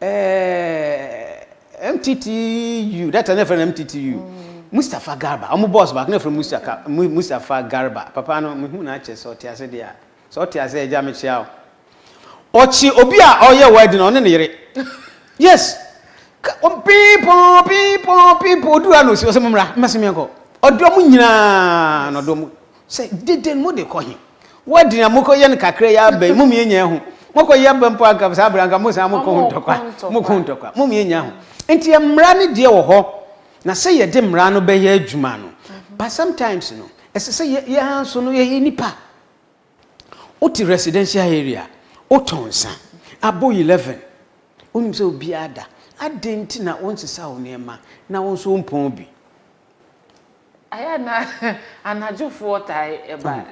Ɛɛɛ MTTU, that time na yɛfrɛ no MTTU. Mustapha Garba, wɔn boss baako na yɛfrɛ no Mustaka, Mu- Mustapha Garba. Papa no, mehu no akyɛ sɛ ɔte ase deɛ a. Sɛ ɔte ase a, agya mekyea wo. Ɔkye obi a ɔyɛ wedding no, ɔne ne yere. Yes. Ka- ɔ- Piipɔn, piipɔn, piipɔn, oduru ha na osi hɔ sɛ mommra, mma sɛ menkɔ. Ɔdɔ mo nyinaa na ɔdɔ mo. Sɛ deden mo de kɔ he? Wɔde nea mokɔ yɛ no kakra yi ara bɛn? Mo mia nya ho. Mokɔ yɛ ba mpo a anka saa bere anka mo san mo kɔ ho ntɔkwa. Mo kɔ ho ntɔkwa. Mo mia nya ho. Nti mmara no deɛ wɔ hɔ. Na sɛ yɛde mmara no bɛyɛ adwuma no. But sometimes no, ɛsɛ sɛ yɛ yɛn ara nso no yɛyɛ nnipa. Wote residential area, wotɔ nsa, abɔ eleven, wonim sɛ obiara da. Adɛn nti na wonsesaw nneɛma na wo nso wompɔn bi? Ayɛ a na anadwofoɔ tae ba,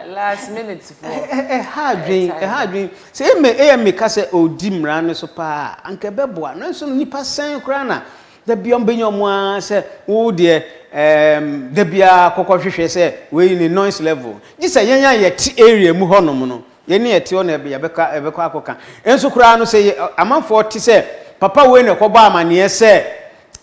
last minute foɔ. Ɛha adwen, ɛha adwen. Sɛ ɛmɛ AMA ka sɛ ɔredi mmara no so paa a, anka ɛbɛboa. Nanso no nnipa sɛn koraa na da biara wɔbɛnya wɔn ara sɛ wo deɛ ɛɛm da biara kɔkɔ hwehwɛ sɛ wei ne noise level. Gye sɛ yɛn a yɛte area mu hɔnom no, yɛn a yɛte hɔ na yɛbɛka yɛbɛkɔ akɔka. Nso koraa no sɛ amanfoɔ te sɛ papa wei na ɛkɔbɔ amaneɛ sɛ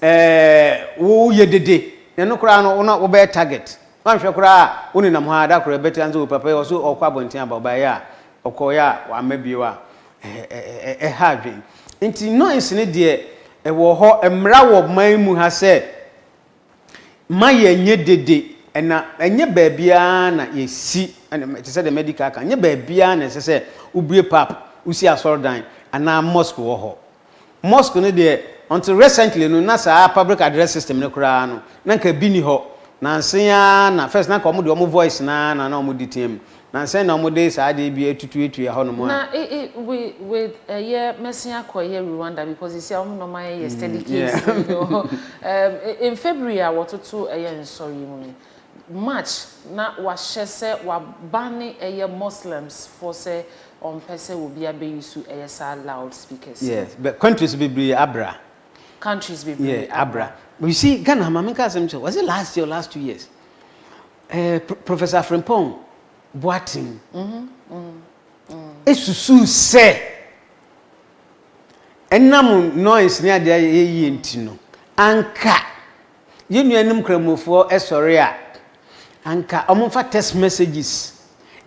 Eh, wo yɛ dede. Na ɛno koraa no, wo na wo bɛyɛ target. Woanhwɛ koraa a, wo nenam hɔ ara, da koro ɛbɛte ansa wo papa yi, ɔse ɔɔkɔ abɔnten aba, ɔbaeɛ a, ɔkɔɔeɛ a, wamma bio a, eh, ɛha adwene. Nti noise no deɛ, ɛwɔ hɔ. Mmara wɔ man mu ha sɛ, ma yɛ nyɛ dede. Ɛna ɛnyɛ baabi ara na yɛ si, te sɛ deɛ madi ka aka, ɛnyɛ baabi ara na ɛsɛ sɛ wo bue pap, wo si asɔredan anaa mosque wɔ hɔ. Mosque no deɛ until recently no na saa public address system no koraa no na nka bi nni hɔ. Nansen ara na first na nka wɔn deɛ wɔn voice no ara na na wɔn de tea mu. Nansen na wɔn de saa adeɛ bi atutuatua hɔ nom a. Na e e we with ɛyɛ mɛsen akɔ yɛ Rwanda because seesei wɔn na wɔn ayɛ yɛ steady case no. Ɛɛm e e in February a wɔtoto ɛyɛ nsɔre yi mu no. March na wahyɛ sɛ wa banne ɛyɛ Muslims foɔ sɛ ɔmpɛ sɛ obia bɛ use ɛyɛ saa loud speakers no. Yes but countries bebree abra. Countries bebree abra. Yeah abra but you see Ghana ha ma me nka asɛm nkyerɛ wo was it last year or last two years eh Professor Afrimpong Boateng esusuu sɛ ɛnam noise ne adeɛ a yɛyɛ yie nti no anka yɛn nuanom Nkramofoɔ sɔre a, anka wɔmfa text messages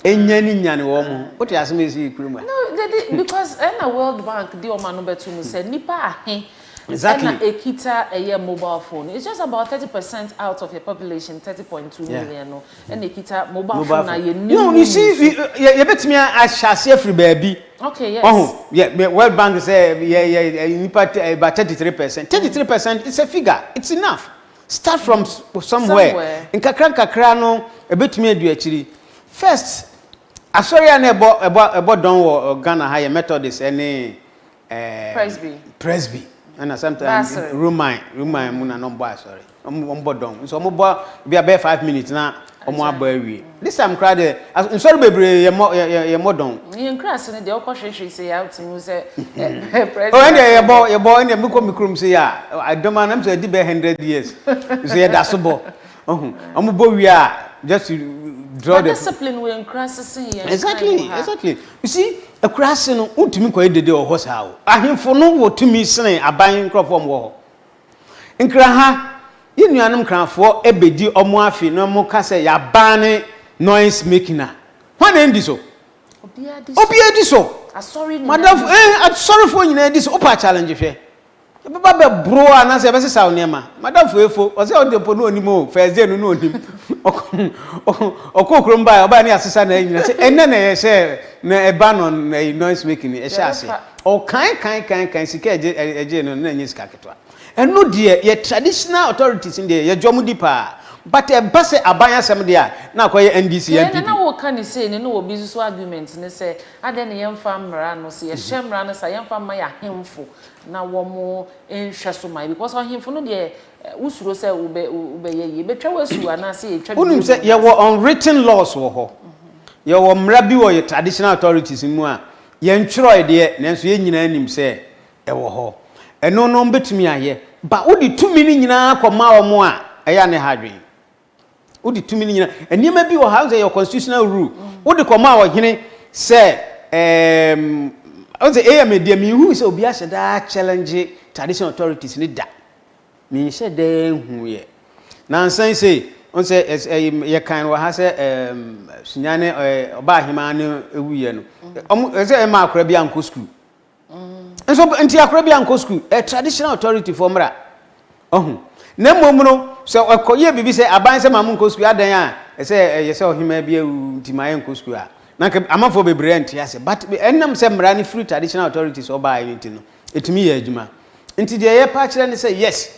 ɛnya ne nyane wɔn ho. Wote asɛm a ɛsii kuro mu a? No, they did because ɛna World Bank de wɔn ano bɛto mu sɛ nipa ahe exactly. ɛna ekita ɛyɛ mobile phone. It's just about thirty percent out of your population, thirty point two million no. Yeah. ɛna ekita mobile phone na yɛ nim. You see, yɛ yɛ betumi ahyɛ ase afiri baabi. Okay, yes. Ɔho, yɛ World Bank sɛ yɛ yɛ nipa about thirty three percent. Thirty three percent is a figure. It's enough. Start from somewhere. Nkakra nkakra no ebetumi adu akyiri. First, asɔre a na ɛbɔ ɛbɔ ɛbɔ dɔn wɔ Ghana ha yɛ Methodist ɛne Presby. Presby. ɛna sometimes roman roman mu na na ɔmbɔ asɔre ɔmbɔ dɔn nso ɔmobɔ bi abɛyɛ five minutes na ɔmo abɔ awie this time koraa deɛ nsɔre bebree yɛmmɔ yɛmmɔ dɔn. yɛn nkurase no deɛ wokɔ hwehwe sɛ yɛ wotumi hu sɛ presby. ɔyɛ deɛ yɛbɔ yɛbɔ ɛna mekɔ me kurom sɛ yɛ a adɔm a nam sɛ ɛdi bɛyɛ hundred years nso yɛda so bɔ. Ɔhun, ɔmo bɔ wie a, just draw the. But discipline wɔ nkuraase sen yɛn. Exactly, exactly. You see, akuraase no, wontumi nkɔyɛ dede wɔ hɔ saa o. Ahemfo no wɔ tumi sene aban nkorɔfoɔ a wɔwɔ hɔ. Nkraha, yɛn nuanom nkrahafoɔ bɛdi wɔn afe na wɔka sɛ yɛabane noise making a, hwan na ɛndi so? Obiara di so. Obiara di so. Asɔre nyinaa di so. Madamfo, eh, asɔrefoɔ nyinaa di so. Wopɛ a challenge hwɛ. Yɛbɛba bɛboro wo anaasɛ yɛbɛsesa wo nneɛma. Madamfo efo, ɔse ɔde mpo na ɔnim o, Thursday no na ɔnim. Ɔkɔɔ kurom baeɛ a, ɔbaeɛ na yɛasesa n'ayi nyinaa. Sɛ ɛnnɛ na yɛhyɛ no ɛba no ayi noise making no, ɛhyɛɛ aseɛ. Ɔkan kan kan kan sika a ɛgyee no no, na ɛnyɛ sika ketewa. Ɛno deɛ, yɛ traditional authorities no deɛ, yɛgye wɔn di paa. But ɛba sɛ aban asɛm deɛ a, na akɔyɛ NDC, NPP. Deɛ na na woka no sei no, na obi nso so argument ne sɛ, adɛn na yɛmfa mmara no, sɛ yɛhyɛ mmara no saa a, yɛmfa mma yɛn ahemfo na wɔn nhwɛso mae, because ɔhemfo no deɛ wosuro sɛ wobɛ wobɛyɛ yie, bɛtwa wo asu anaasɛ yɛtwa biribi Wonim sɛ yɛwɔ unwritten laws wɔ hɔ. Yɛwɔ mmara bi wɔ yɛ traditional authorities no mu a, yɛntwerɛe deɛ, nanso yɛn nyinaa nim sɛ ɛwɔ hɔ. Ɛno no wɔbɛtumi ayɛ, but wode tumi no nyinaa kɔma wɔn a, ɛyɛ a na ɛha adwene. Wode tumi no nyina. Nneɛma bi wɔ ha sɛ yɛ constitutional rule. Wode kɔmaa ɔhene sɛ ɛɛm ɔsɛ ɛyɛ me deɛ menhu sɛ obi ahyɛ daa challenge traditional authorities ne da. Menhyɛ daa hu yɛ. Nansan sei ɔsɛ ɛyɛ yɛ kan wɔ ha sɛ ɛɛm sunyane ɔbaa hemaa ne ɛwuyɛ no. Ɔmo ɛsɛ ɛma akora bi ankɔ school. Nso nti akora bi ankɔ sukuu. Ɛ traditional authority foɔ mmra. Ɔho. Na mmom no, sɛ ɔkɔ yɛ biribi sɛ aban sɛ ma mo nkɔ sukuu adɛn a ɛsɛ ɛyɛ sɛ ɔhemaa bi awu nti ma yɛ nkɔ sukuu a, na nka amanfoɔ bebree nte ase. But ɛnam sɛ mmra no firi traditional authority so ɔbaeɛ no nti no, ɛtumi yɛ adwuma. Nti deɛ yɛpɛ akyerɛ ne sɛ yes,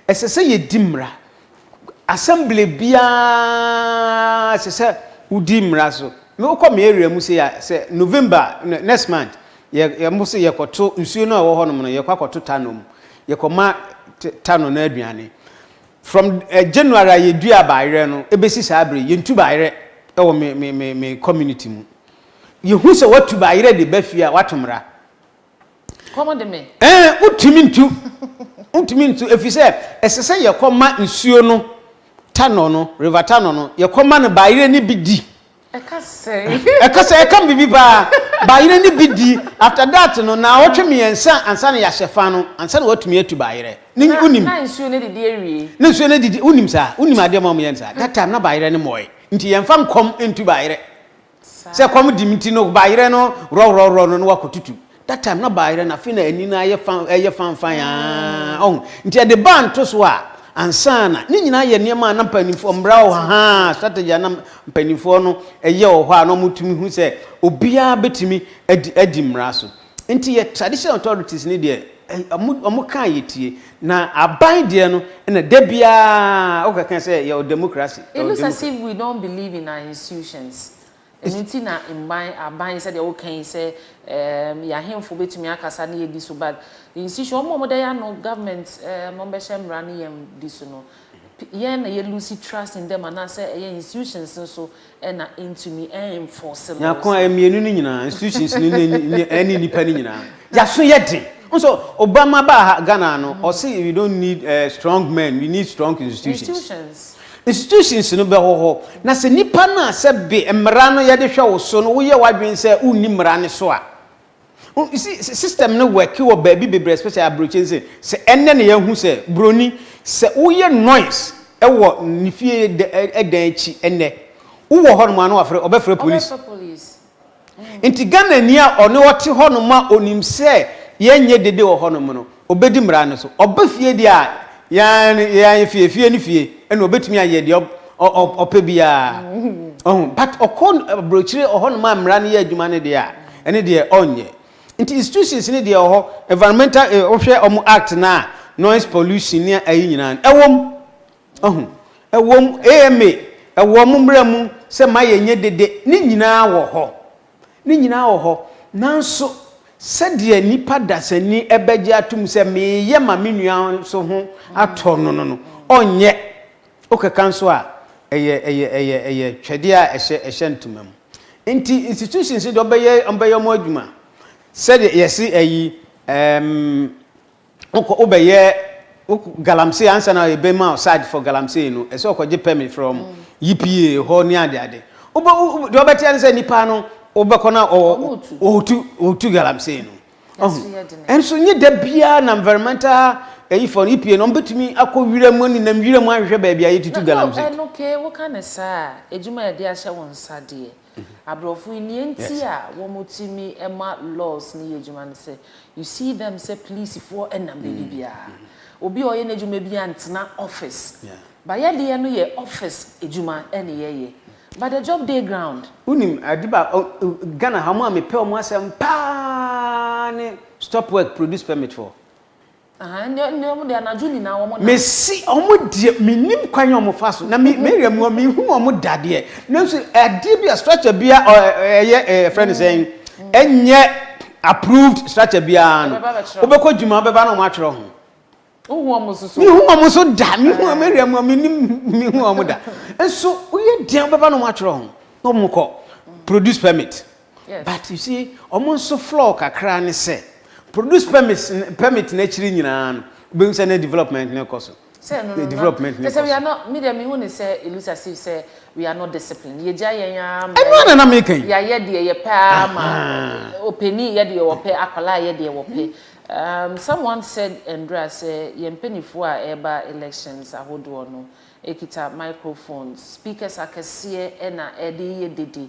ɛsɛ sɛ yɛdi mmra. Assembly biara ɛsɛ sɛ wodi mmara so. Me wokɔ me area mu sei a, sɛ November, next month, yɛ yɛ mo se yɛkɔto nsuo no a ɛwɔ hɔnom no, yɛkɔ akɔto tanɔ mu. Yɛkɔma tanɔ no aduane. From eh, January a yɛdua baayerɛ no ɛbɛsi saa bere yɛntu baayerɛ ɛwɔ me me me me community mu. Yɛhu sɛ watu baayerɛ de ba fie a, watu mmara. Ɛɛ, wontumi ntu. Wontumi ntu, efisɛ ɛsɛ sɛ yɛkɔma nsuo no, Tanor no, River Tanor no, yɛkɔma no, bayerɛ no bi di. Ɛka sɛn? Ɛka sɛn? Ɛka biribi paa. Bayerɛ no bi di, after that no, nnawɔtwe mmiɛnsa ansa na yɛahyɛ fa no, ansa na wɔatumi atu bayerɛ. Ne, wonim. Na nsuo no adidi awie. Na nsuo no adidi, wonim saa? Wonim adeɛ ma wɔyɛ no saa? That time na bayerɛ no mmɔɔe, nti yɛmfa nkɔm ntu bayerɛ. Sɛ kɔm di me nti no baayerɛ no rɔrɔrɔ no na wakɔtutu. That time na baayerɛ no afei na ani no ayɛ fa ɛyɛ fanfan aa ɔho nti ɛde baa ntosoɔ a ansa na ne nyinaa yɛ nneɛma a na mpanimfoɔ mmara wɔ haa strategy a na mpanimfoɔ no yɛ wɔ hɔ a na wɔtumi hu sɛ obiara bɛtumi adi adi mmara so. Nti yɛ traditional authorities no deɛ ɔmo kaa yɛtie na aban deɛ no na da biara wokɛkɛ sɛ yɛwɔ democracy. It looks as if we don't believe in our institutions ɛno nti na mban aban sɛdeɛ woka yi sɛ ɛɛm yɛahenfo bɛtumi akasa ne yɛdi so but institution ɔmo a ɔmo da yɛ ano government ɛɛm ɔmo bɛhyɛ mmra ne yɛn di so no yɛn na yɛ lose trust in them anaasɛ ɛyɛ institutions no so na entumi enforce laws. Nyako a mmienu no nyinaa, institutions no ne ɛne nnipa no nyinaa, yɛaso yɛ den. Nso Obama baa ha Ghana no, ɔse we don't need uh, strong men, we need strong institutions. Institutions. Institutions no bɛhɔ hɔ. Na sɛ nnipa no a sɛ be mmara no yɛde hwɛ wo so no woyɛ w'adwene sɛ wonni mmara no so a, Oh, you see, s- system no work wɔ baabi bebree, especially aburokyi nse. Sɛ ɛnɛ na yɛahu sɛ buroni, sɛ woyɛ noise ɛwɔ ne fie dɛ- ɛ- ɛdan akyi ɛnɛ, wowɔ hɔ nom a na wafrɛ, ɔbɛfrɛ police. Ɔbɛfrɛ police. Nti Ghanani a ɔne ɔte hɔ nom a onim sɛ yɛnyɛ dede wɔ hɔ nom no, Ɔbɛdi mmara no so. Ɔba fie deɛ a, yan yan fie, fie ne fie, ɛna ɔbɛtumi ayɛ deɛ ɔ, ɔ, ɔpɛ biara. Ɔho, but ɔkɔ aburokyire ɔhɔnom a mmara no yɛ adwuma no deɛ a, ɛne deɛ ɔnyɛ. Nti institutions no deɛ ɔhɔ, environmental, eh, wohwɛ ɔmo act no a, noise pollution ne ayi nyinaa no, ɛwom. Ɔho, ɛwom, AMA, ɛwɔ ɔmo mmara mu sɛ ma yɛnyɛ dede, ne nyinaa wɔ hɔ. Ne nyinaa wɔ hɔ. Nanso, sɛdeɛ nnipa dasani bɛgye atom sɛ meyɛ ma me nua nso ho atɔ no no no, ɔnyɛ. Wokeka nso a, ɛyɛ, ɛyɛ, ɛyɛ, ɛyɛ twɛdeɛ a ɛhyɛ, ɛhyɛ ntoma mu. Enti, institutions no deɛ, wɔbɛyɛ, wɔbɛyɛ wɔn adwuma. Sɛdeɛ yɛse ayi, ɛɛm. Wokɔ wobɛyɛ wo galamsey ansa na ebe ma search for galamsey no ɛsɛ ɔkɔgye permit from yipa hɔ ne ade ade wobɛ deɛ ɔbɛteɛ no sɛ nipa no wobɛkɔ na ɔtu ɔtu galamsey no ɔho ɛnso nye da biara na environmental ɛyi fɔ no yipa no ɔbɛtumi akɔ wira mu ne nam wira mu ahwehwɛ baabi a yɛtutu galamsey. Na ɛno kee woka ne saa a edwuma a yɛde ahyɛ wo nsa deɛ Aborɔfo yi, nea enti a wɔtumi ma laws no yɛ adwuma ne sɛ, you see them sɛ polisifoɔ nam baabi biara. Obi a ɔyɛ n'adwuma biara ntena office. But yɛdeɛ no yɛ office adwuma na yɛyɛ. But the job dey ground. Wonim ade baako, Ghana ha, wɔn a mepɛ wɔn asɛm pa ara ne stop work, produce permit foɔ. Ahaa ndɛ ndɛ ɔmo deɛ anadwo nyinaa ɔmo nam. Mese ɔmo deɛ mennim kwan a ɔmo fa so na me meyɛ mmoa menhunu ɔmo da deɛ nanso adeɛ bi a structure bi a ɛyɛ yɛfrɛ no sɛn ɛnyɛ approved structure biara no wobɛkɔ adwuma wobɛba na ɔmo atwerɛ ho Wohu ɔmo nso so? Mehu ɔmo nso da mehu ɔmo area mu a mennim mehu ɔmo da nso woyɛ dɛn wobɛba na ɔmo atwerɛ ho na ɔmo kɔ produce permit. But you see, wɔn nso flaw kakra ne sɛ, produce permit permit no akyiri nyinaa no, wobɛhu sɛ na development no rekɔ so. Sɛ no no, development no rekɔ so. Sɛ we are not, me deɛ mehu ne sɛ it looks as if sɛ we are not disciplined. Yɛgya yɛn ara ma. Ɛno ara na na meka yi. Yɛayɛ deɛ yɛpɛ ara ma opanin yɛ deɛ ɔpɛ, akwadaa yɛ deɛ ɔpɛ. Um, someone said Ndura sɛ yɛn mpanimfoɔ a ɛreba elections ahodoɔ no kita microphones, speakers akɛseɛ na ɛde yɛ dede.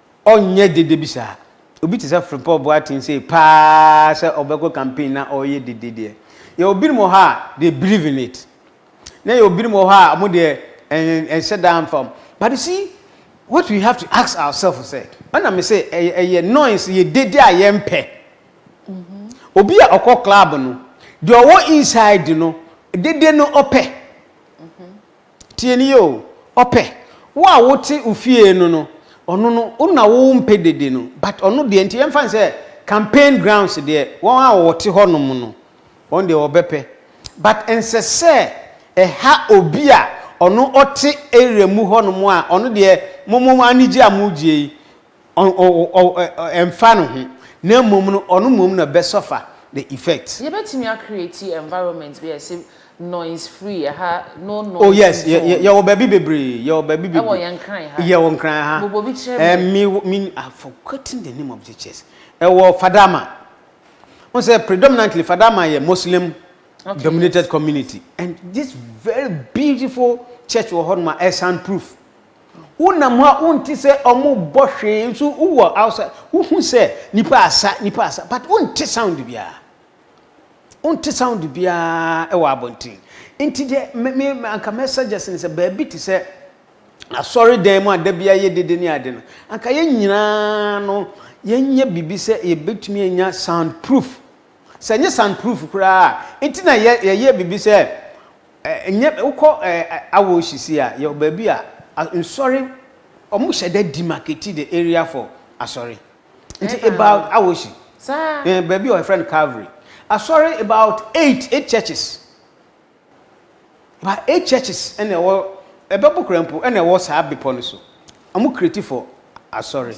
Ɔnyɛ dede bi saa. Obi te sɛ Frimpong Boateng sei paa sɛ ɔbɛkɔ campaign na ɔreyɛ dede deɛ. Yɛwɔ binom wɔ hɔ a they believe in it. Na yɛwɔ binom wɔ hɔ a wɔn deɛ ɛn ɛnhyɛ da mfa wɔn. But you see what we have to ask ourselves sɛ, ɛna me sɛ ɛyɛ ɛyɛ noise yɛ dede a yɛmpɛ. Obi a ɔkɔ club no, deɛ ɔwɔ inside no dede no ɔpɛ. Tie no yie o, ɔpɛ wo a wote wo fie no no, ɔno no wo na wo mpɛ dede no but ɔno deɛ nti yɛmfa no sɛ campaign grounds deɛ wɔn a wɔte hɔ nom no wɔn deɛ wɔbɛpɛ but ɛnsɛ sɛ ɛha obi a ɔno ɔte area mu hɔ nom a ɔno deɛ mo mo anigye a mo gye yi Ɔmfa no ho, na mmom no ɔno mmom na ɔbɛ suffer the effect. Yɛbɛtumi a create environment bi a ɛse noise free, ɛha no noise zone. Oh yes, yɛwɔ baabi bebree, yɛwɔ baabi bebree. Ɛwɔ yɛn Nkran ha. Yɛwɔ Nkran ha. Bobɔ bi kyerɛ me. Ɛɛ me me I have forgotten the name of the church. Ɛwɔ Fadama. Wohu sɛ predominantly Fadama yɛ Muslim dominated community and this very beautiful church wɔ hɔnom a ɛyɛ sound proof. Wonam hɔ a wonte sɛ ɔmo bɔ hwee nso wowɔ outside wohu sɛ nipa asa nipa asa but wonte sound biara wonte sound biara wɔ abɔnten nti deɛ me me anka mɛ suggest ne sɛ baabi te sɛ asɔre dan mu a da biara yɛ dede ne ade no anka yɛn nyinaa no yɛnyɛ biribi sɛ yɛbɛtumi anya sound proof sɛ nyɛ sound proof koraa nti na yɛyɛ biribi sɛ Ɛnyɛ wokɔ Awoshisi a yɛwɔ baabi a nsɔre ɔmo hyɛ da demarcate the area for asɔre nti about Awoshi yɛwɔ baabi a wɔfrɛ no Calvary asɔre about eight eight churches about eight churches ɛna ɛwɔ ɛbɛbo koraa mpo ɛna ɛwɔ saa bepɔ no so. Ɔmo create for asɔre.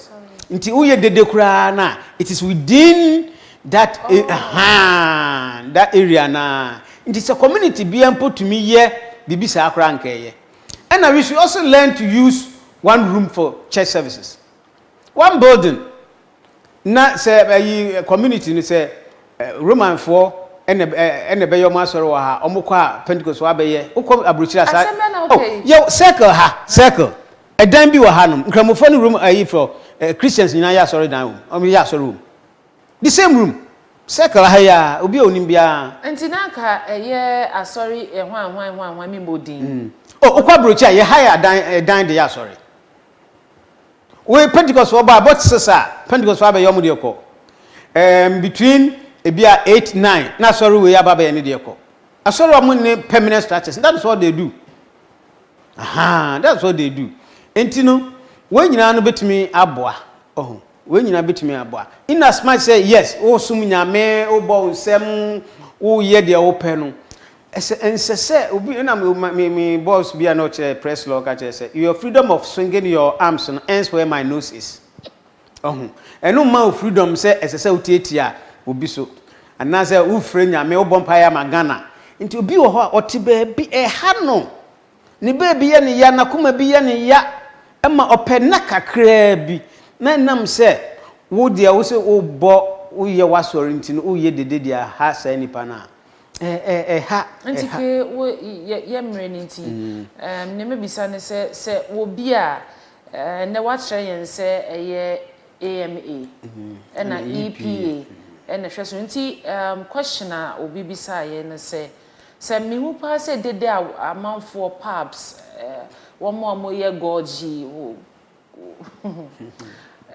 Nti woyɛ dede koraa no a, it is within that ahan, that area no ara. Nti sɛ community biara mpo tumi yɛ biribi saa koraa a nka ɛyɛ. Ɛna we should also learn to use one room for church services. One building. Na sɛ ɛyi community no sɛ Roman foɔ ɛna ɛna ɛbɛyɛ ɔmo asɔre wɔ ha ɔmo kɔ a Pentecost foɔ abɛyɛ wokɔ aburokyire a saa oh yɛ circle ha circle ɛdan bi wɔ ha nom nkramofoɔ ne Roman ɛyi foɔ eh, Christians nyinaa yɛ asɔre dan wɔ mu ɔmo yɛ asɔre wɔ mu the same room circle ha yi a obi a onim biara. Nti na anka ɛyɛ asɔre ɛhwanhwan ɛhwanhwan mi mmɔ din. Oh wokɔ aburokyire a yɛ hire adan ɛdan de yɛ asɔre. Woyɛ Pentecostfoɔ ba a, bɔ tss a, Pentecostfoɔ abɛyɛ wɔn deɛ kɔ. Ɛɛm, between ebi a eight, nine, na asɔre wei aba abɛyɛ ne deɛ kɔ. Asɔre a wɔn nne permanent structures, that is what they do. Ahaa, that is what they do. Nti no, wɔn nyinaa no bɛtumi aboa, ɔho. Wei nyinaa bɛtumi aboa. In as much sɛ yes, woresom Nyame, wobɔ wo nsam, woreyɛ deɛ wopɛ no, ɛsɛ, ɛnsɛ sɛ obi, na me, me, me boss bi a na ɔkyerɛ press law ka kyerɛ sɛ, your freedom of swinging your arms no ends where my nose is. Ɔho. Ɛno mma wo freedom sɛ ɛsɛ sɛ wotiatia obi so. Anaasɛ wofrɛ Nyame, wobɔ mpaeɛ ama Ghana. Nti obi wɔ hɔ a ɔte baabi, ɛha no. Ne baabi yɛ no ya, n'akoma bi yɛ no ya ma ɔpɛ nna kakraa bi. Na ɛnam sɛ wo deɛ wo sɛ wobɔ, woyɛ w'asɔre nti no, woyɛ dede de aha saa nipa no a, ɛ, ɛ, ɛha, Nti ɛha. kee wo yɛ, yɛ mmerɛ no nti, ɛɛm, nea mɛbisa ne sɛ, sɛ wɔ bi a, ɛɛ, nnɛ woakyerɛ yɛn sɛ ɛyɛ AMA ɛna EPA ɛna ɛhwɛ so, nti ɛɛm, question a obi bisaa yɛn ne sɛ. Sɛ mehu paa sɛ dede a amanfoɔ pubs eh, wɔn a wɔyɛ gorge wo,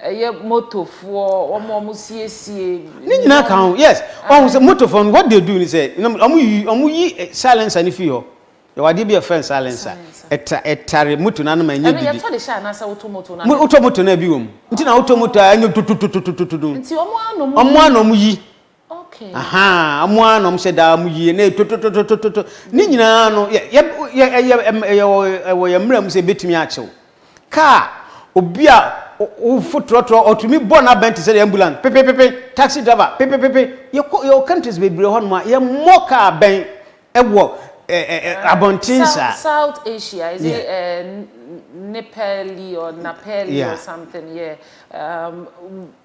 ɛyɛ motofoɔ wɔn a wɔsiesie Ne nyinaa nneɛma ka ho. Yes. Ɔhu sɛ motofoɔ no, what they do ne sɛ, nam- ɔmo yi- ɔmo yi eh, silencer no fi hɔ. Yɛwɔ adeɛ bi a yɛfrɛ no silencer. Silencer. Ɛtra- Ɛtare moto no ano ma ɛnyɛ ɛno dede. yɛtɔ de hyɛ anaasɛ wotɔ moto no Mo- Wotɔ moto no a, ɛbi wɔ mu. Nti na wotɔ moto a, ɛnyɛ tototototototo. nti wɔn ara na wɔn Ɔmo ara na ɔmo yi. Okay. Aha, ɔmo ara na ɔmo hyɛ daa ɔmo yie na yɛ totototototo ne nyinaa no yɛ yɛ yɛ ɛyɛ ɛyɛ ɛwɔ yɛ mmerɛ mu sɛ ebetumi akyew. Kaa obi a wofo trɔtrɔ ɔtumi bɔ n'abɛn te sɛ de ambulance pepepepe taxi driver pepepepe yɛkɔ yɛwɔ countries bebree hɔ nom a yɛmmɔ kaa bɛn Wɔ abɔnten saa. South Asia is it Nepali or Napali or something yeah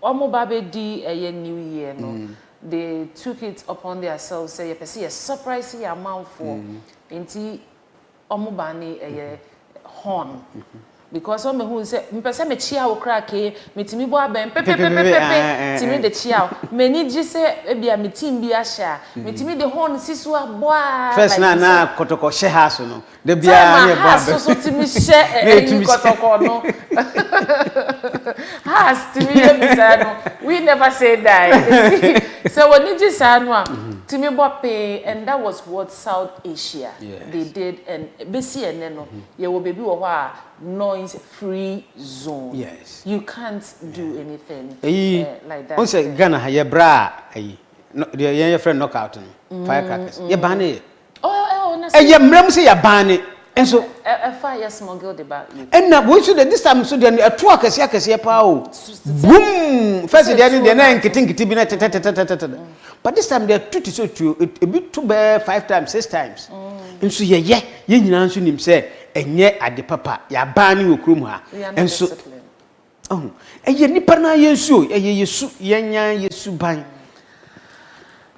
ɔmo ba bɛ di ɛyɛ new year no they took it upon their selves sɛ yɛpɛ sɛ yɛ surprise yɛ amanfoɔ nti. Ɔmo baa ne ɛyɛ horn because ɔmo behu sɛ mepɛ sɛ me kyea wo koraa kee me tumi bɔ abɛn pepepepepe tumi de kyea wo m'ani gye sɛ ebi a me team bi ahyɛ a me tumi de horn si so a bɔ a first na na kɔtɔkɔ hyɛ ha so no da bi a na ɛbɔ abɛn so so tumi hyɛ ɛyi kɔtɔkɔ no ha tumi yɛ bi saa no we never say die sɛ w'ani gye saa no a tumi bɔ pee and that was what. South Asia they did and besi ɛnɛ no yɛwɔ baabi wɔ hɔ a noise free zone yes you can't do anything ɛyi eh, like that. ɔnsɛ Ghana ha yɛ bra ɛyi deɛ yɛn yɛfrɛ knockout no mm. firecrackers yɛ ban ne yɛ oh, oh, ɛyɛ mmerɛ mu sɛ yɛ ban ne Nso. Ɛfa yɛ smuggle de ba UK. Ɛna wei nso deɛ this time nso deɛ no ɛto akɛseɛ akɛseɛ paa o. Boom! First deɛ no deɛ na yɛ nkete nkete bi na tɛtɛtɛtɛtɛtɛ. But this time deɛ ɛto te sɛ otuo, ebi to bɛɛ five times, six times. Nso yɛyɛ, yɛn nyinaa nso nim sɛ ɛnyɛ ade papa, yɛaban no wɔ kurom ha. Nso. Ɔho, ɛyɛ nipa naa yɛn su o, ɛyɛ yɛ su, yɛn nyaa yɛ suban.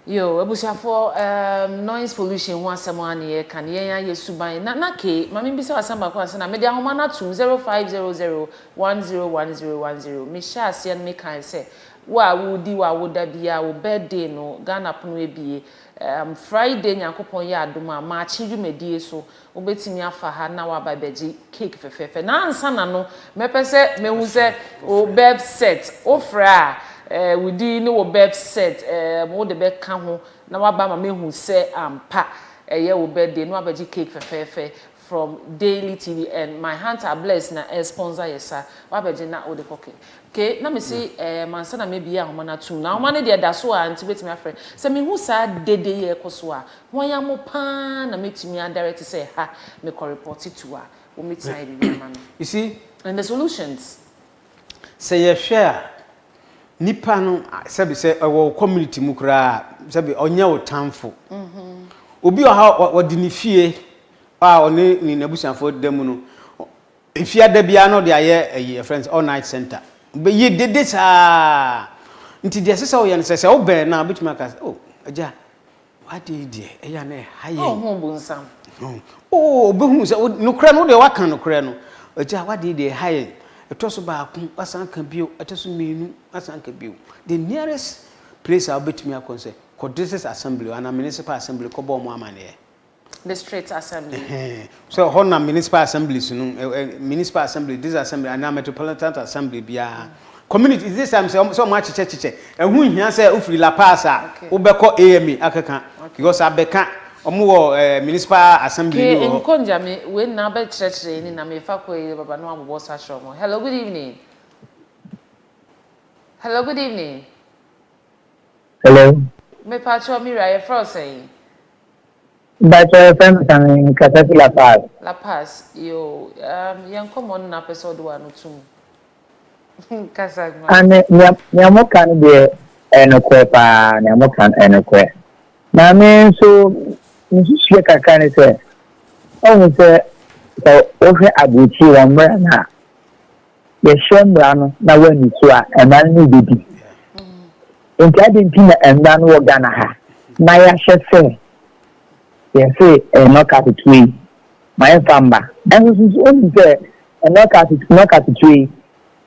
Yoo abusuafoɔ ehm noise pollution ho asɛm ara na yɛreka no, yɛn ara yɛ suban. Na na Kay, ma me bisa wo asɛm baako ansa na mede ahoma no atom zero five zero zero one zero one zero one zero me hyɛɛ aseɛ no me kae sɛ wo a wo di w'awoda biara wo birthday no Ghana pono abue ehm Friday Nyankopɔn yɛ adom a maakye dwumadie so Wobɛtumi afa ha na woaba abɛgye cake fɛfɛɛfɛ. Na ansa na no, mɛpɛ sɛ mɛhu sɛ wo birth cert, wofrɛ a, eh, wo din ne wo birth cert, eh, wode bɛka ho na woaba ama mɛhu sɛ ampa ɛyɛ wo birthday na woabɛgye cake fɛfɛɛfɛ from Daily TV and my heart are blessed na ɛresponsor yɛ sa. Woabɛgye na wode kɔ ke. Okay, na mese, eh, ansa na mɛbue ahoma no atom no. Ahoma no deɛ ɛda so a nti wobɛtumi afrɛ. Sɛ mehu saa dede yi a ɛkɔ so a, Hwan a mo paa na mɛtumi adɛre te sɛ ha mekɔ repɔte to a wɔmɛtumi ayɛ biribi ama no You see, and the solutions. sɛ yɛhwɛ a, nipa no sɛbi sɛ ɛwɔ wo community mu koraa sɛbi ɔnyɛ wo tanfo. Obi wɔ ha a ɔde ne fie a ɔne ne n'abusuafoɔ da mu no, efiada biara na ɔde ayɛ ayi ɛfrɛ no sɛ all night center. Bɛyɛ dede saa. Nti deɛ ɛsɛ sɛ woyɛ no sɛ sɛ wobɛn no a wobɛtumi aka sɛ oh agya W'ade yi deɛ, ɛyɛ a na ɛha yɛn. Ɔnhu ɔbonsam. Oo, ɔbɛhunu sɛ nokorɛ no, wo deɛ woaka nokorɛ no. Agya, w'ade yi deɛ ɛha yɛn. Ɛtɔ so baako, woasan aka bio. Ɛtɔ so mmienu, woasan aka bio. The nearest place a wobɛtumi akɔ ne sɛ, kɔ district assembly hɔ anaa municipal assembly kɔbɔ wɔn amanneɛ. District Assembly. So ɛhɔ na municipal assemblies no, municipal assembly, this assembly, anaa metropolitan assembly biara. Community, is this time sɛ wɔn akyekyɛ kyekyɛ. Ɛho nhia sɛ wofiri La Paz a wobɛkɔ AMA akeka because abɛka wɔn wɔ municipal assembly bi wɔ hɔ. Nkɔ Njame, wei nyinaa wobɛkyerɛkyerɛ ani na mefa kɔ yɛ baba na wɔabobɔ sa akyerɛ wɔn. Hello, good evening. Hello, good evening. Hello. Mepa kyɛw, me wura, yɛfrɛ wo sɛn? Mpakyɛw yɛfrɛ no sɛn wɔ kasa fi La Paz? La Paz yoo umm yɛn nkɔmɔ no na apɛ sɛ ɔde w'ano to mu kasa ma me. Aane nea nea mo ka no deɛ ɛyɛ nokorɛ paa nea mo ka no ɛyɛ nokorɛ na me nso me nsusuiɛ kakra ne sɛ woahu sɛ sɛ wohwɛ aburokyire wɔn mmra no a yɛhyɛ mmara no na wɔanni so a, mmara no ne bɛdi. Nti adi nti na mmara no wɔ Ghana ha na yɛahyɛ sɛ yɛse nnɔkase tue yi ma yɛmfa mma. Ɛnso nso wonim sɛ nnɔkase nnɔkase tue yi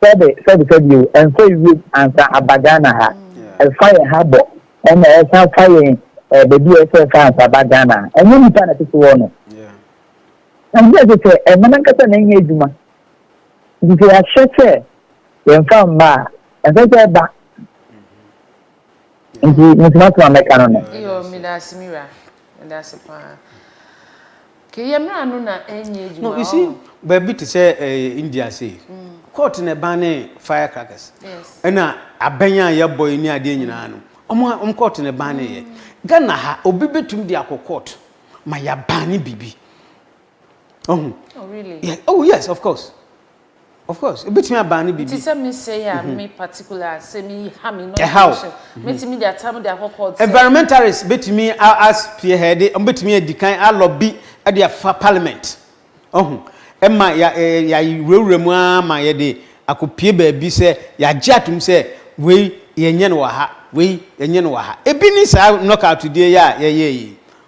sɛbe sɛbe sɛbe o, ɛmfa ewiem ansa aba Ghana ha. Ɛfa yɛn ha bɔ ɛna ɛsan fa yɛn eh, baabi a ɛsɛ ɛfa ansa aba Ghana. Ɛnyɛ nipa na ɛte so wɔ no. Ɛnyɛ sɛ sɛ ɛma nankasa na ɛnyɛ adwuma. Nti yɛahyɛ sɛ yɛmfa mma a, ɛsɛ sɛ ɛba. Nti metumi ato a mɛka no no. Iyo, meda ase me wura. Meda ase paa. Ke yɛ mmara no na ɛnyɛ adwuma. No, you see, baabi te sɛ ɛɛ India sei. Court na ɛban ne fire crackers. Ɛna abɛn a yɛbɔ yi ne adeɛ nyinaa no. Ɔmo ɔmo court na ɛban ne yɛ. Ghana ha, obi betumi de akɔ court ma yɛaban ne biribi. ɔho oh, really? yeah. oh yes of course of course ebetumi abaa ne biribi nti sɛ mesɛ yɛ a mhm. me particular sɛ me ha me no mhm. metumi de atam de akɔ court environmentalist betumi as pie ha de betumi adi kan alɔbi de afa parliament ɔho ɛma yɛ yɛ wurawura mu ara ma yɛ de akɔpie baabi sɛ yɛagye atom sɛ wei yɛnyɛ no wɔ ha wei yɛnyɛ no wɔ ha ebi ne saa knockout deɛ yɛ a yɛyɛ yi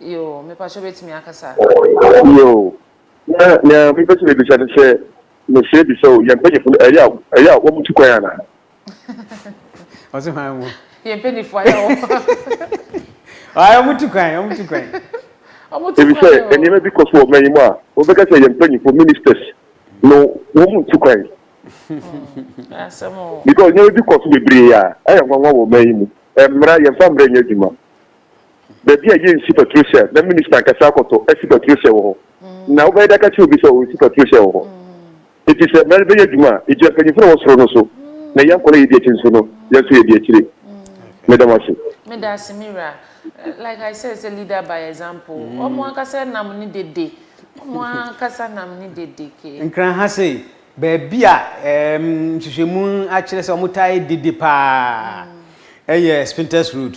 Yoo, mepa kyɛw bɛtumi akasa. Yoo, na nea mepɛ sɛ mebisa ne sɛ, mesrɛ bisa o, yɛn mpanyinfo no ɛyɛ a ɛyɛ a wɔn tu kwan anaa? Ɔse hwan mo? Yɛn mpanyinfo ayɛ a wɔn. Ayi wɔn tu kwan, wɔn tu kwan. Wɔn tu kwan o. Ebi sɛ nneɛma bi kɔ so wɔ ɔman yi mu a, wɔbɛka sɛ yɛn mpanyinfo, ministers, no wɔn ntu kwan. Ɛyɛ asɛm o. Because nneɛma bi kɔ so bebree a, ayɛ nwanwa wɔ ɔman yi mu. Mmara, yɛn fa mmara nyɛ adwuma. baabi a yɛnsi patricia na minista ankasa akɔtɔ asi patricia wɔ hɔ. Na wobɛyɛ dɛ aka kyerɛ obi sɛ ɔresi patricia wɔ hɔ. Enti sɛ mmara no bɛyɛ adwuma a, egyina mpanyimfo no a ɛwɔ soro no so, na yɛn kwan a yedi akyi nso no, yɛn nso yɛdi akyire. Meda mo ase. Medase me wura. Like I said sɛ leader by example. Wɔn ankasa nam ne dede. Wɔn ankasa nam ne dede ke. Nkran ha sei, baabi a ɛɛm nhwehwɛmu akyerɛ sɛ wɔtaa yɛ dede paa yɛ Spintex Road.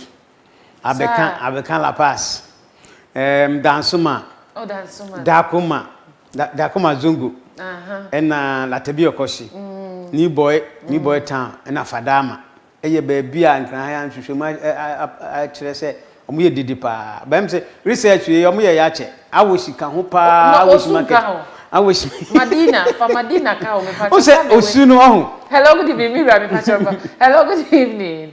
Abeka Sa. Abeka La Paz, um, Dansuma, Oh, Dansuma. Dakuma, da, Dakuma Zongo, Aha. ɛna Latabi Ɔkɔhye, mm. New Boy, New Boy mm. Town, ɛna Fadama. Ɛyɛ baabi a nkranhan anhwehwɛ mu akyerɛ sɛ wɔn yɛ dede paa. Bɛm sɛ research yɛ wɔn yɛ yɛ akyɛ. Awosi ka ho paa. Awosi market. Awosi. Madina, fa Madina ka ho. Mepa kyɛ. Ose osu no ɔho. Hello, good evening. Mira, mepa kyɛ. Hello, good evening.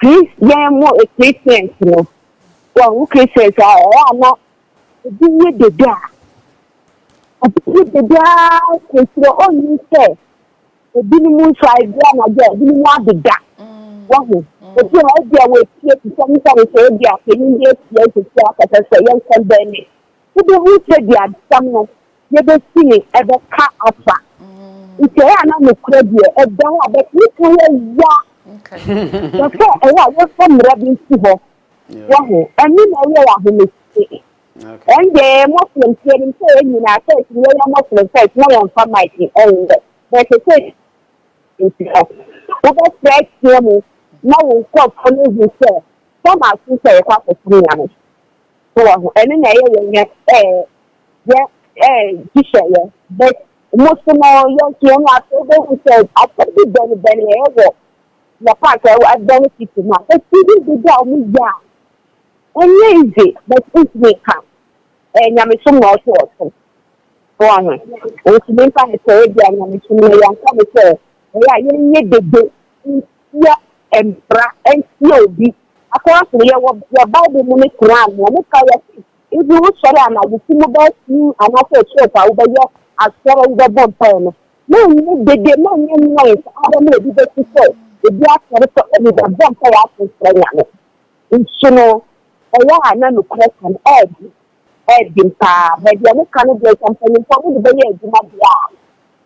Christian mu Christians no, wɔn Christians a ɛyɛ a na ebi yɛ dede a, ebi yɛ dede ara kyerɛkyerɛ ɔnni sɛ ebinom nso a ebi anadwo a ebinom adeda wɔho. Ebi a ebi a wɔatie sisɛm sɛ nso ebi a panyin bi atie sisi akasa sɛ yɛnkɔ bɛn ne Wubehu sɛ diadesɛm no yebesi no ɛbɛka afa nkyerɛe a na nokorɛ deɛ ɛda hɔ a bɛtumi ka yɛ ya na sɛ ɛyɛ a yɛmfa mmara bi nsi hɔ. Wahu? Ɛno na ɛyɛ ahomete. Ɛnde Muslims yɛnim sɛ yɛn nyinaa sɛ ɛtumi yɛyɛ Muslim first na yɛmfa mic ɛnyɛ na ɛsɛ sɛ nti no wobɛfrɛ team na wo nkurɔfoɔ no ahu sɛ sɛ masom sɛ yɛkɔ akɔsom Nyame. wɔ ho ɛno na ɛyɛ yɛn yɛ ɛɛ yɛ ɛɛ gyisɛ yɛ bɛ mo so no yɛ nso yɛn na afei bɛ hu sɛ asɛ bi bɛn bɛn yɛ wɔ yɛ paak ɛwɔ ɛbɛn titi ma esi bi bi bi a wɔn yɛ a ɛnyɛ ize bɛ ntumi ka ɛɛ nyamesom na ɔso ɔso wɔ ho ntumi nka ne sɛ ebi a nyamesom na yɛn nka ne sɛ ɛyɛ a yɛn nyɛ dede. Tia mmara ntia obi. Akoa sɛ yɛ wɔ yɛ bible mu ne koran mu ɔmo ka yɛ se ebi wo sɔre anadwo se mo bɛɛ sii anaasɛ ɛkyerɛ saa wo bɛ yɛ asɔre wo bɛ bɔ mpae no ma nyɛ dede ma nyɛ noise ara ma obi bɛ su sɛ ebi asɔre sɛ ɔmo bɛ bɔ mpae ato nkyerɛ nyame nso no ɛyɛ a na nokorɛ ka no ɛɛde Ɛyɛ den paa. Baabi a moka no deɛ, sɛ mpanimfoɔ mode bɛyɛ adwuma deɛ a,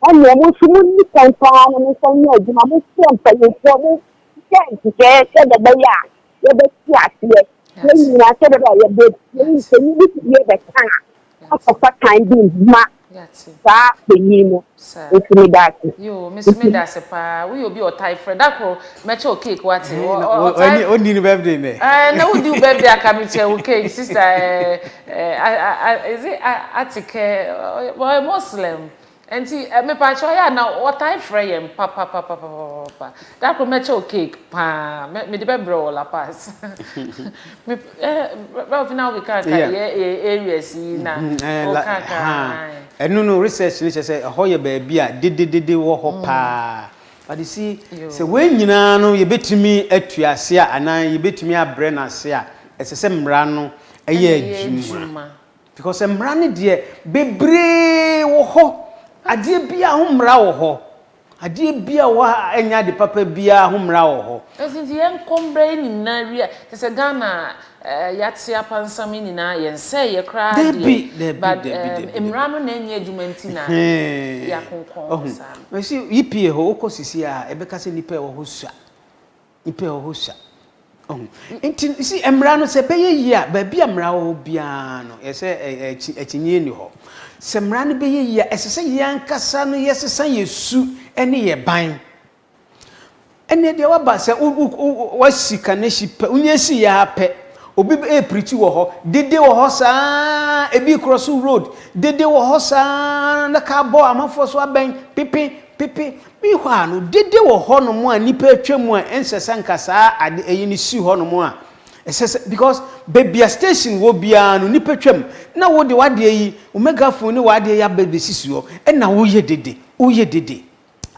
ɛnneɛ mo nso monni kan paa na momfa nyɛ adwuma. Mofrɛ mpanimfoɔ, monhwɛ nhyehyɛeɛ sɛdeɛ ɛbɛyɛ a yɛbɛte aseɛ. Yɛn nyinaa sɛdeɛ ɛbɛyɛ a yɛbɛ, yɛn mpanin bi tumi bɛka a, moakɔfa tan bi ma Yɛate. Saa panyin no, Saa. nso meda ase. Yoo, me nso Nti. meda ase paa. Woyɛ obi a ɔtae frɛ. Da koro, mɛkyɛ wo cake, woate. Ɛhɛn, Ɔ- na ɔ- wo- ɔtae ɔnni- ɔnni ne birthday nnɛ. Ɛɛ, na wodi wo birthday aka mekyɛ wo cake, sister. Ɛɛ, ɛɛ, a- a- a- is it a- Atikɛ? Ɔyɛ- Ɔyɛ Muslim. Nti, ɛ, mepaakyɛw, ɔyɛ a na ɔtae frɛ yɛn papapapapapapa. Da koro mɛkyɛ wo cake paa. Mɛ- Mede bɛbrɛ wo La Paz. Ɛno no research no kyerɛ sɛ ɛhɔ yɛ baabi a dededede wɔ hɔ paa. But you see, sɛ wei nyinaa no yɛbɛtumi atu ase a anaa yɛbɛtumi abrɛ no ase a, ɛsɛ sɛ mmara no yɛ adwuma. Because sɛ mmara no deɛ bebree wɔ hɔ, adeɛ biara ho mmara wɔ hɔ. Adeɛ biaa wɔ hɔ a ɛnyɛ ade papa biaa ho mmara wɔ hɔ. Ɛnti nti yɛn kɔ mbra yɛ ne nyinaa wie a te sɛ Ghana eh yate apansam yi nyinaa yɛn sɛɛ yɛ koraa deɛ Dabi dabi but dabi eh dabi dabi mmra no na ɛnyɛ adwuma nti na yɛ Ɛhee akonkɔn hɔ ɔho saa no. mɛse UPA hɔ wokɔ sisi a ɛbɛka sɛ nipa ɛwɔ hɔ sua. Nnipa wɔ hɔ sua. Ɔho. Nti, si mmara no, sɛ ɛbɛyɛ yie a, baabi a mmara wɔ biara no, yɛ sɛ akyinnyeɛ nni hɔ. Sɛ mmara no bɛyɛ yie a, ɛsɛ sɛ yɛn ankasa no yɛsesa yɛn su ne yɛn ban. Ɛnneɛ deɛ waba sɛ wo, wo, wo, wasi kanehyi pɛ, wonya si yɛ ara pɛ, obi ɛreprikyi wɔ hɔ, dede wɔ hɔ saa ara, ebi korɔ so road, dede wɔ hɔ saa ara, na kaa bɔ amanfoɔ so abɛn, pepe, pepe, Mihua no dede wɔ hɔnom a nnipa atwa mu a ɛnsɛ sɛ nka saa ade ɛyi no si hɔnom a ɛsɛ sɛ because baabi a station wɔ biara no nnipa twam na wode w'adeɛ yi wo megaphone ne w'adeɛ yi aba bɛsisi hɔ ɛna woyɛ dede woyɛ dede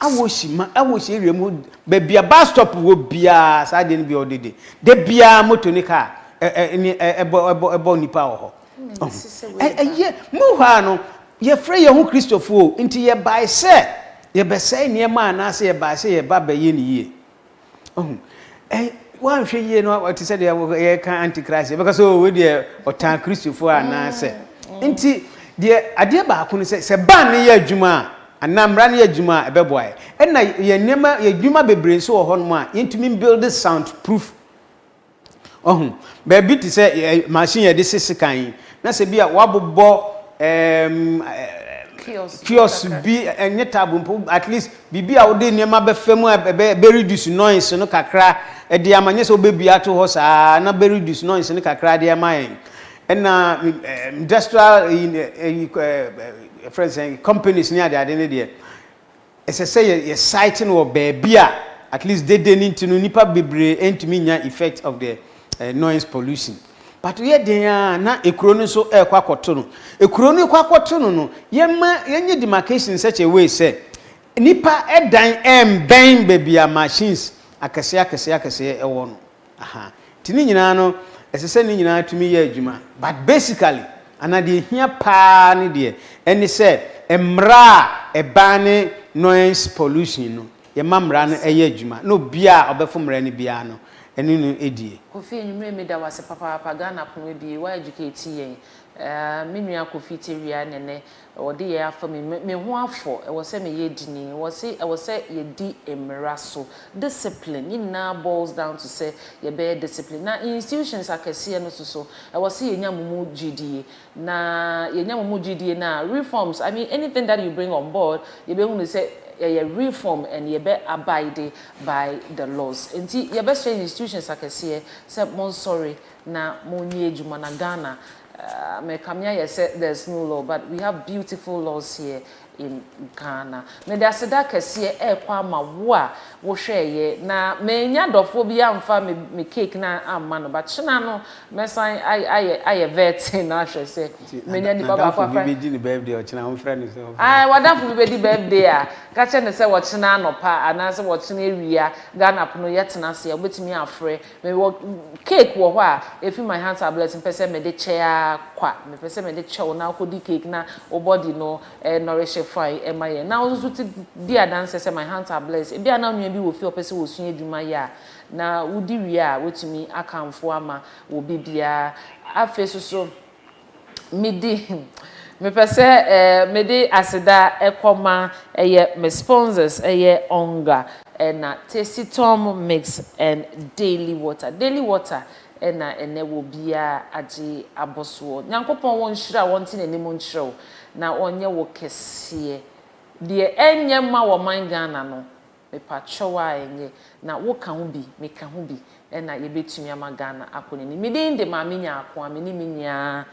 awɔsi ma awɔsi area mu baabi a bus stop wɔ biara saa adeɛ no bi ɔdede da biara moto ne car ɛne ɛbɔ ɛbɔ ɛbɔ nnipa wɔ hɔ Ɛyɛ mu hɔ a no, yɛfrɛ yɛn ho Kristofo o, nti yɛbae sɛ yɛbɛsɛe nneɛma anaasɛ yɛbae sɛ yɛba bɛyɛ no yie. Ɔho, ɛy, woanhwɛ yie no, ɔte sɛ deɛ yɛka antichrist, yɛbɛka sɛ owe deɛ ɔtaa Kristofo anaasɛ. Nti, deɛ adeɛ baako no sɛ, sɛ ban no yɛ adwuma a, anaa mmara no yɛ adwuma a, ɛbɛboa yɛ. Ɛna yɛn nneɛma, yɛn adwuma bebree nso wɔ hɔnom a, yɛntumi mbuilde sound proof Wahu? Baabi te sɛ ɛ, machine yɛde se sekan yi, na sɛ bi a wabobɔ ɛɛm ɛ, Kiosk bi kiosk kakra. bi, ɛ, ɛnyɛ table mpo, at least biribi a wode nneɛma bɛfa mu a ɛbɛ, ɛbɛ reduce noise no kakra de ama, nyɛ sɛ wobɛbue ato hɔ saa ara na bɛ reduce noise no kakra de ama yɛn. Ɛna me, ɛ, industrial, ɛyi, ɛ, ɛyi, ɛ, ɛ, yɛfrɛ no sɛn, companies ne adeade no deɛ, Ɛsɛ sɛ yɛ yɛ site no wɔ baabi a at least dede no nti no nnipa bebree ɛntumi nnya effect of the noise pollution. But yɛ den a na ekuro no nso ɛrekɔ akɔto no. Ekuro no rekɔ akɔto no no yɛma yɛnyɛ demarcation in such a way sɛ nnipa ɛdan ɛmbɛn baabi a machines akɛseɛ akɛseɛ akɛseɛ ɛwɔ no. Aha nti ne nyinaa no ɛsɛ sɛ ne nyinaa tumi yɛ adwuma but basically anaa deɛ ɛhia paa ne deɛ ɛne sɛ mmara a ɛbaa ne noise pollution no yɛma mmara no ɛyɛ adwuma na obia a ɔbɛfo mmara no biara no ɛne no ɛdie. Kofi Anwumerɛ meda wo ase papaapa Ghana pono abie wa educate yɛn eh me nua Kofi Tewia ne ne wɔde yɛn afa mu yi, me me ho afɔ. Ɛwɔ sɛ meyɛ edini. Ɛwɔ se ɛwɔ sɛ yɛdi mmara so. Discipline, ne nyinaa boils down to sɛ yɛbɛyɛ discipline. Na institutions akɛseɛ no nso so, ɛwɔ se yɛnya mo mu gyidie. Na yɛnya mo mu gyidie no a, reforms, I mean anything that you bring on board, yɛbɛhunu sɛ ɛyɛ reform and yɛbɛ abide by the laws. Enti yɛbɛsrɛ institutions akɛseɛ sɛ monsɔre na monyɛ adwuma na Ghana Ahh me kame ayɛ sɛ there's no law but we have beautiful laws here in Ghana. Mede aseda kɛseɛ ɛrekɔ ama wo a wo hwɛɛyɛ na mannya dɔfoɔ bi amfa me me cake no amma no but kyena no mɛsan ayɛ ayɛ ayɛ vetting no ahwɛ sɛ Nti manya nipa baako n'adamfo bi afra bɛdi ne birthday ɔkyena ɔmfrɛ no sɛ ɔmfrɛ Ae w'adamfo bi bɛdi birthday a ka kyerɛ no sɛ ɔkyena anɔpa anaasɛ ɔkyena awia Ghana pono yɛtena ase a wobɛtumi afrɛ Mewɔ cake wɔ hɔ a efi my hands are blessed mpɛ sɛ mede kyɛ ara kwa. Mepɛ sɛ mede kyɛ wo na wokɔdi cake na wo body no nourish fine ɛma yɛn. Na wo nso so di adanseɛ sɛ my hands are blessed. Ebia na wo nua bi wɔ fie a ɔpɛ sɛ ɔsua adwuma yɛ a, na wodi wie a, woatumi akamfo ama wɔ biribiara. Afei nso so. midi hmm mepɛ sɛ eh mede aseda kɔma ɛyɛ me sponsors ɛyɛ Onga ɛna Tasty Tom Mix and Daily Water Daily Water ɛna ɛnɛ wɔ biaa agye abosoɔ Nyankopɔn wɔ nhyira wɔ nte nanim nkyerɛ wo na ɔnyɛ wo kɛseɛ deɛ ɛnyɛ mma wɔ man Ghana no Mepa kyɛw a ɛnyɛ na wo ka ho bi, me ka ho bi ɛna yɛbɛtumi ama Ghana akɔ n'anim. Me din de Maame Nyarko a me ne me nua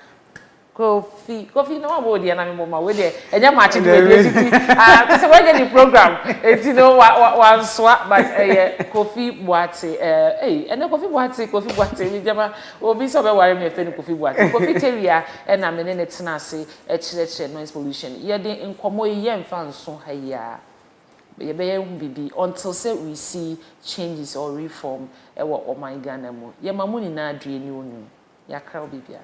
Kofi, Kofi na wabɔ wo deɛ na me bɔ ma wei deɛ ɛnyɛ match de w'ani asi ti ah te sɛ w'anya ne program ɛti no wa wa wansoa but ɛyɛ Kofi Boate eh ei ɛnɛ Kofi Boate Kofi Boate me gyama obi sɛ ɔbɛware me ɛfɛ no Kofi Boate Kofi Tewia ɛna me ne ne tena ase ɛkyerɛkyerɛ noise pollution yɛde nkɔmmɔ yi yɛnfa nso ha yi a. Yɛbɛyɛ ho biribi until sɛ we see changes or reform wɔ ɔman Ghana mu. Yɛma mo nyinaa adue ne onum. Yɛakra obi biara.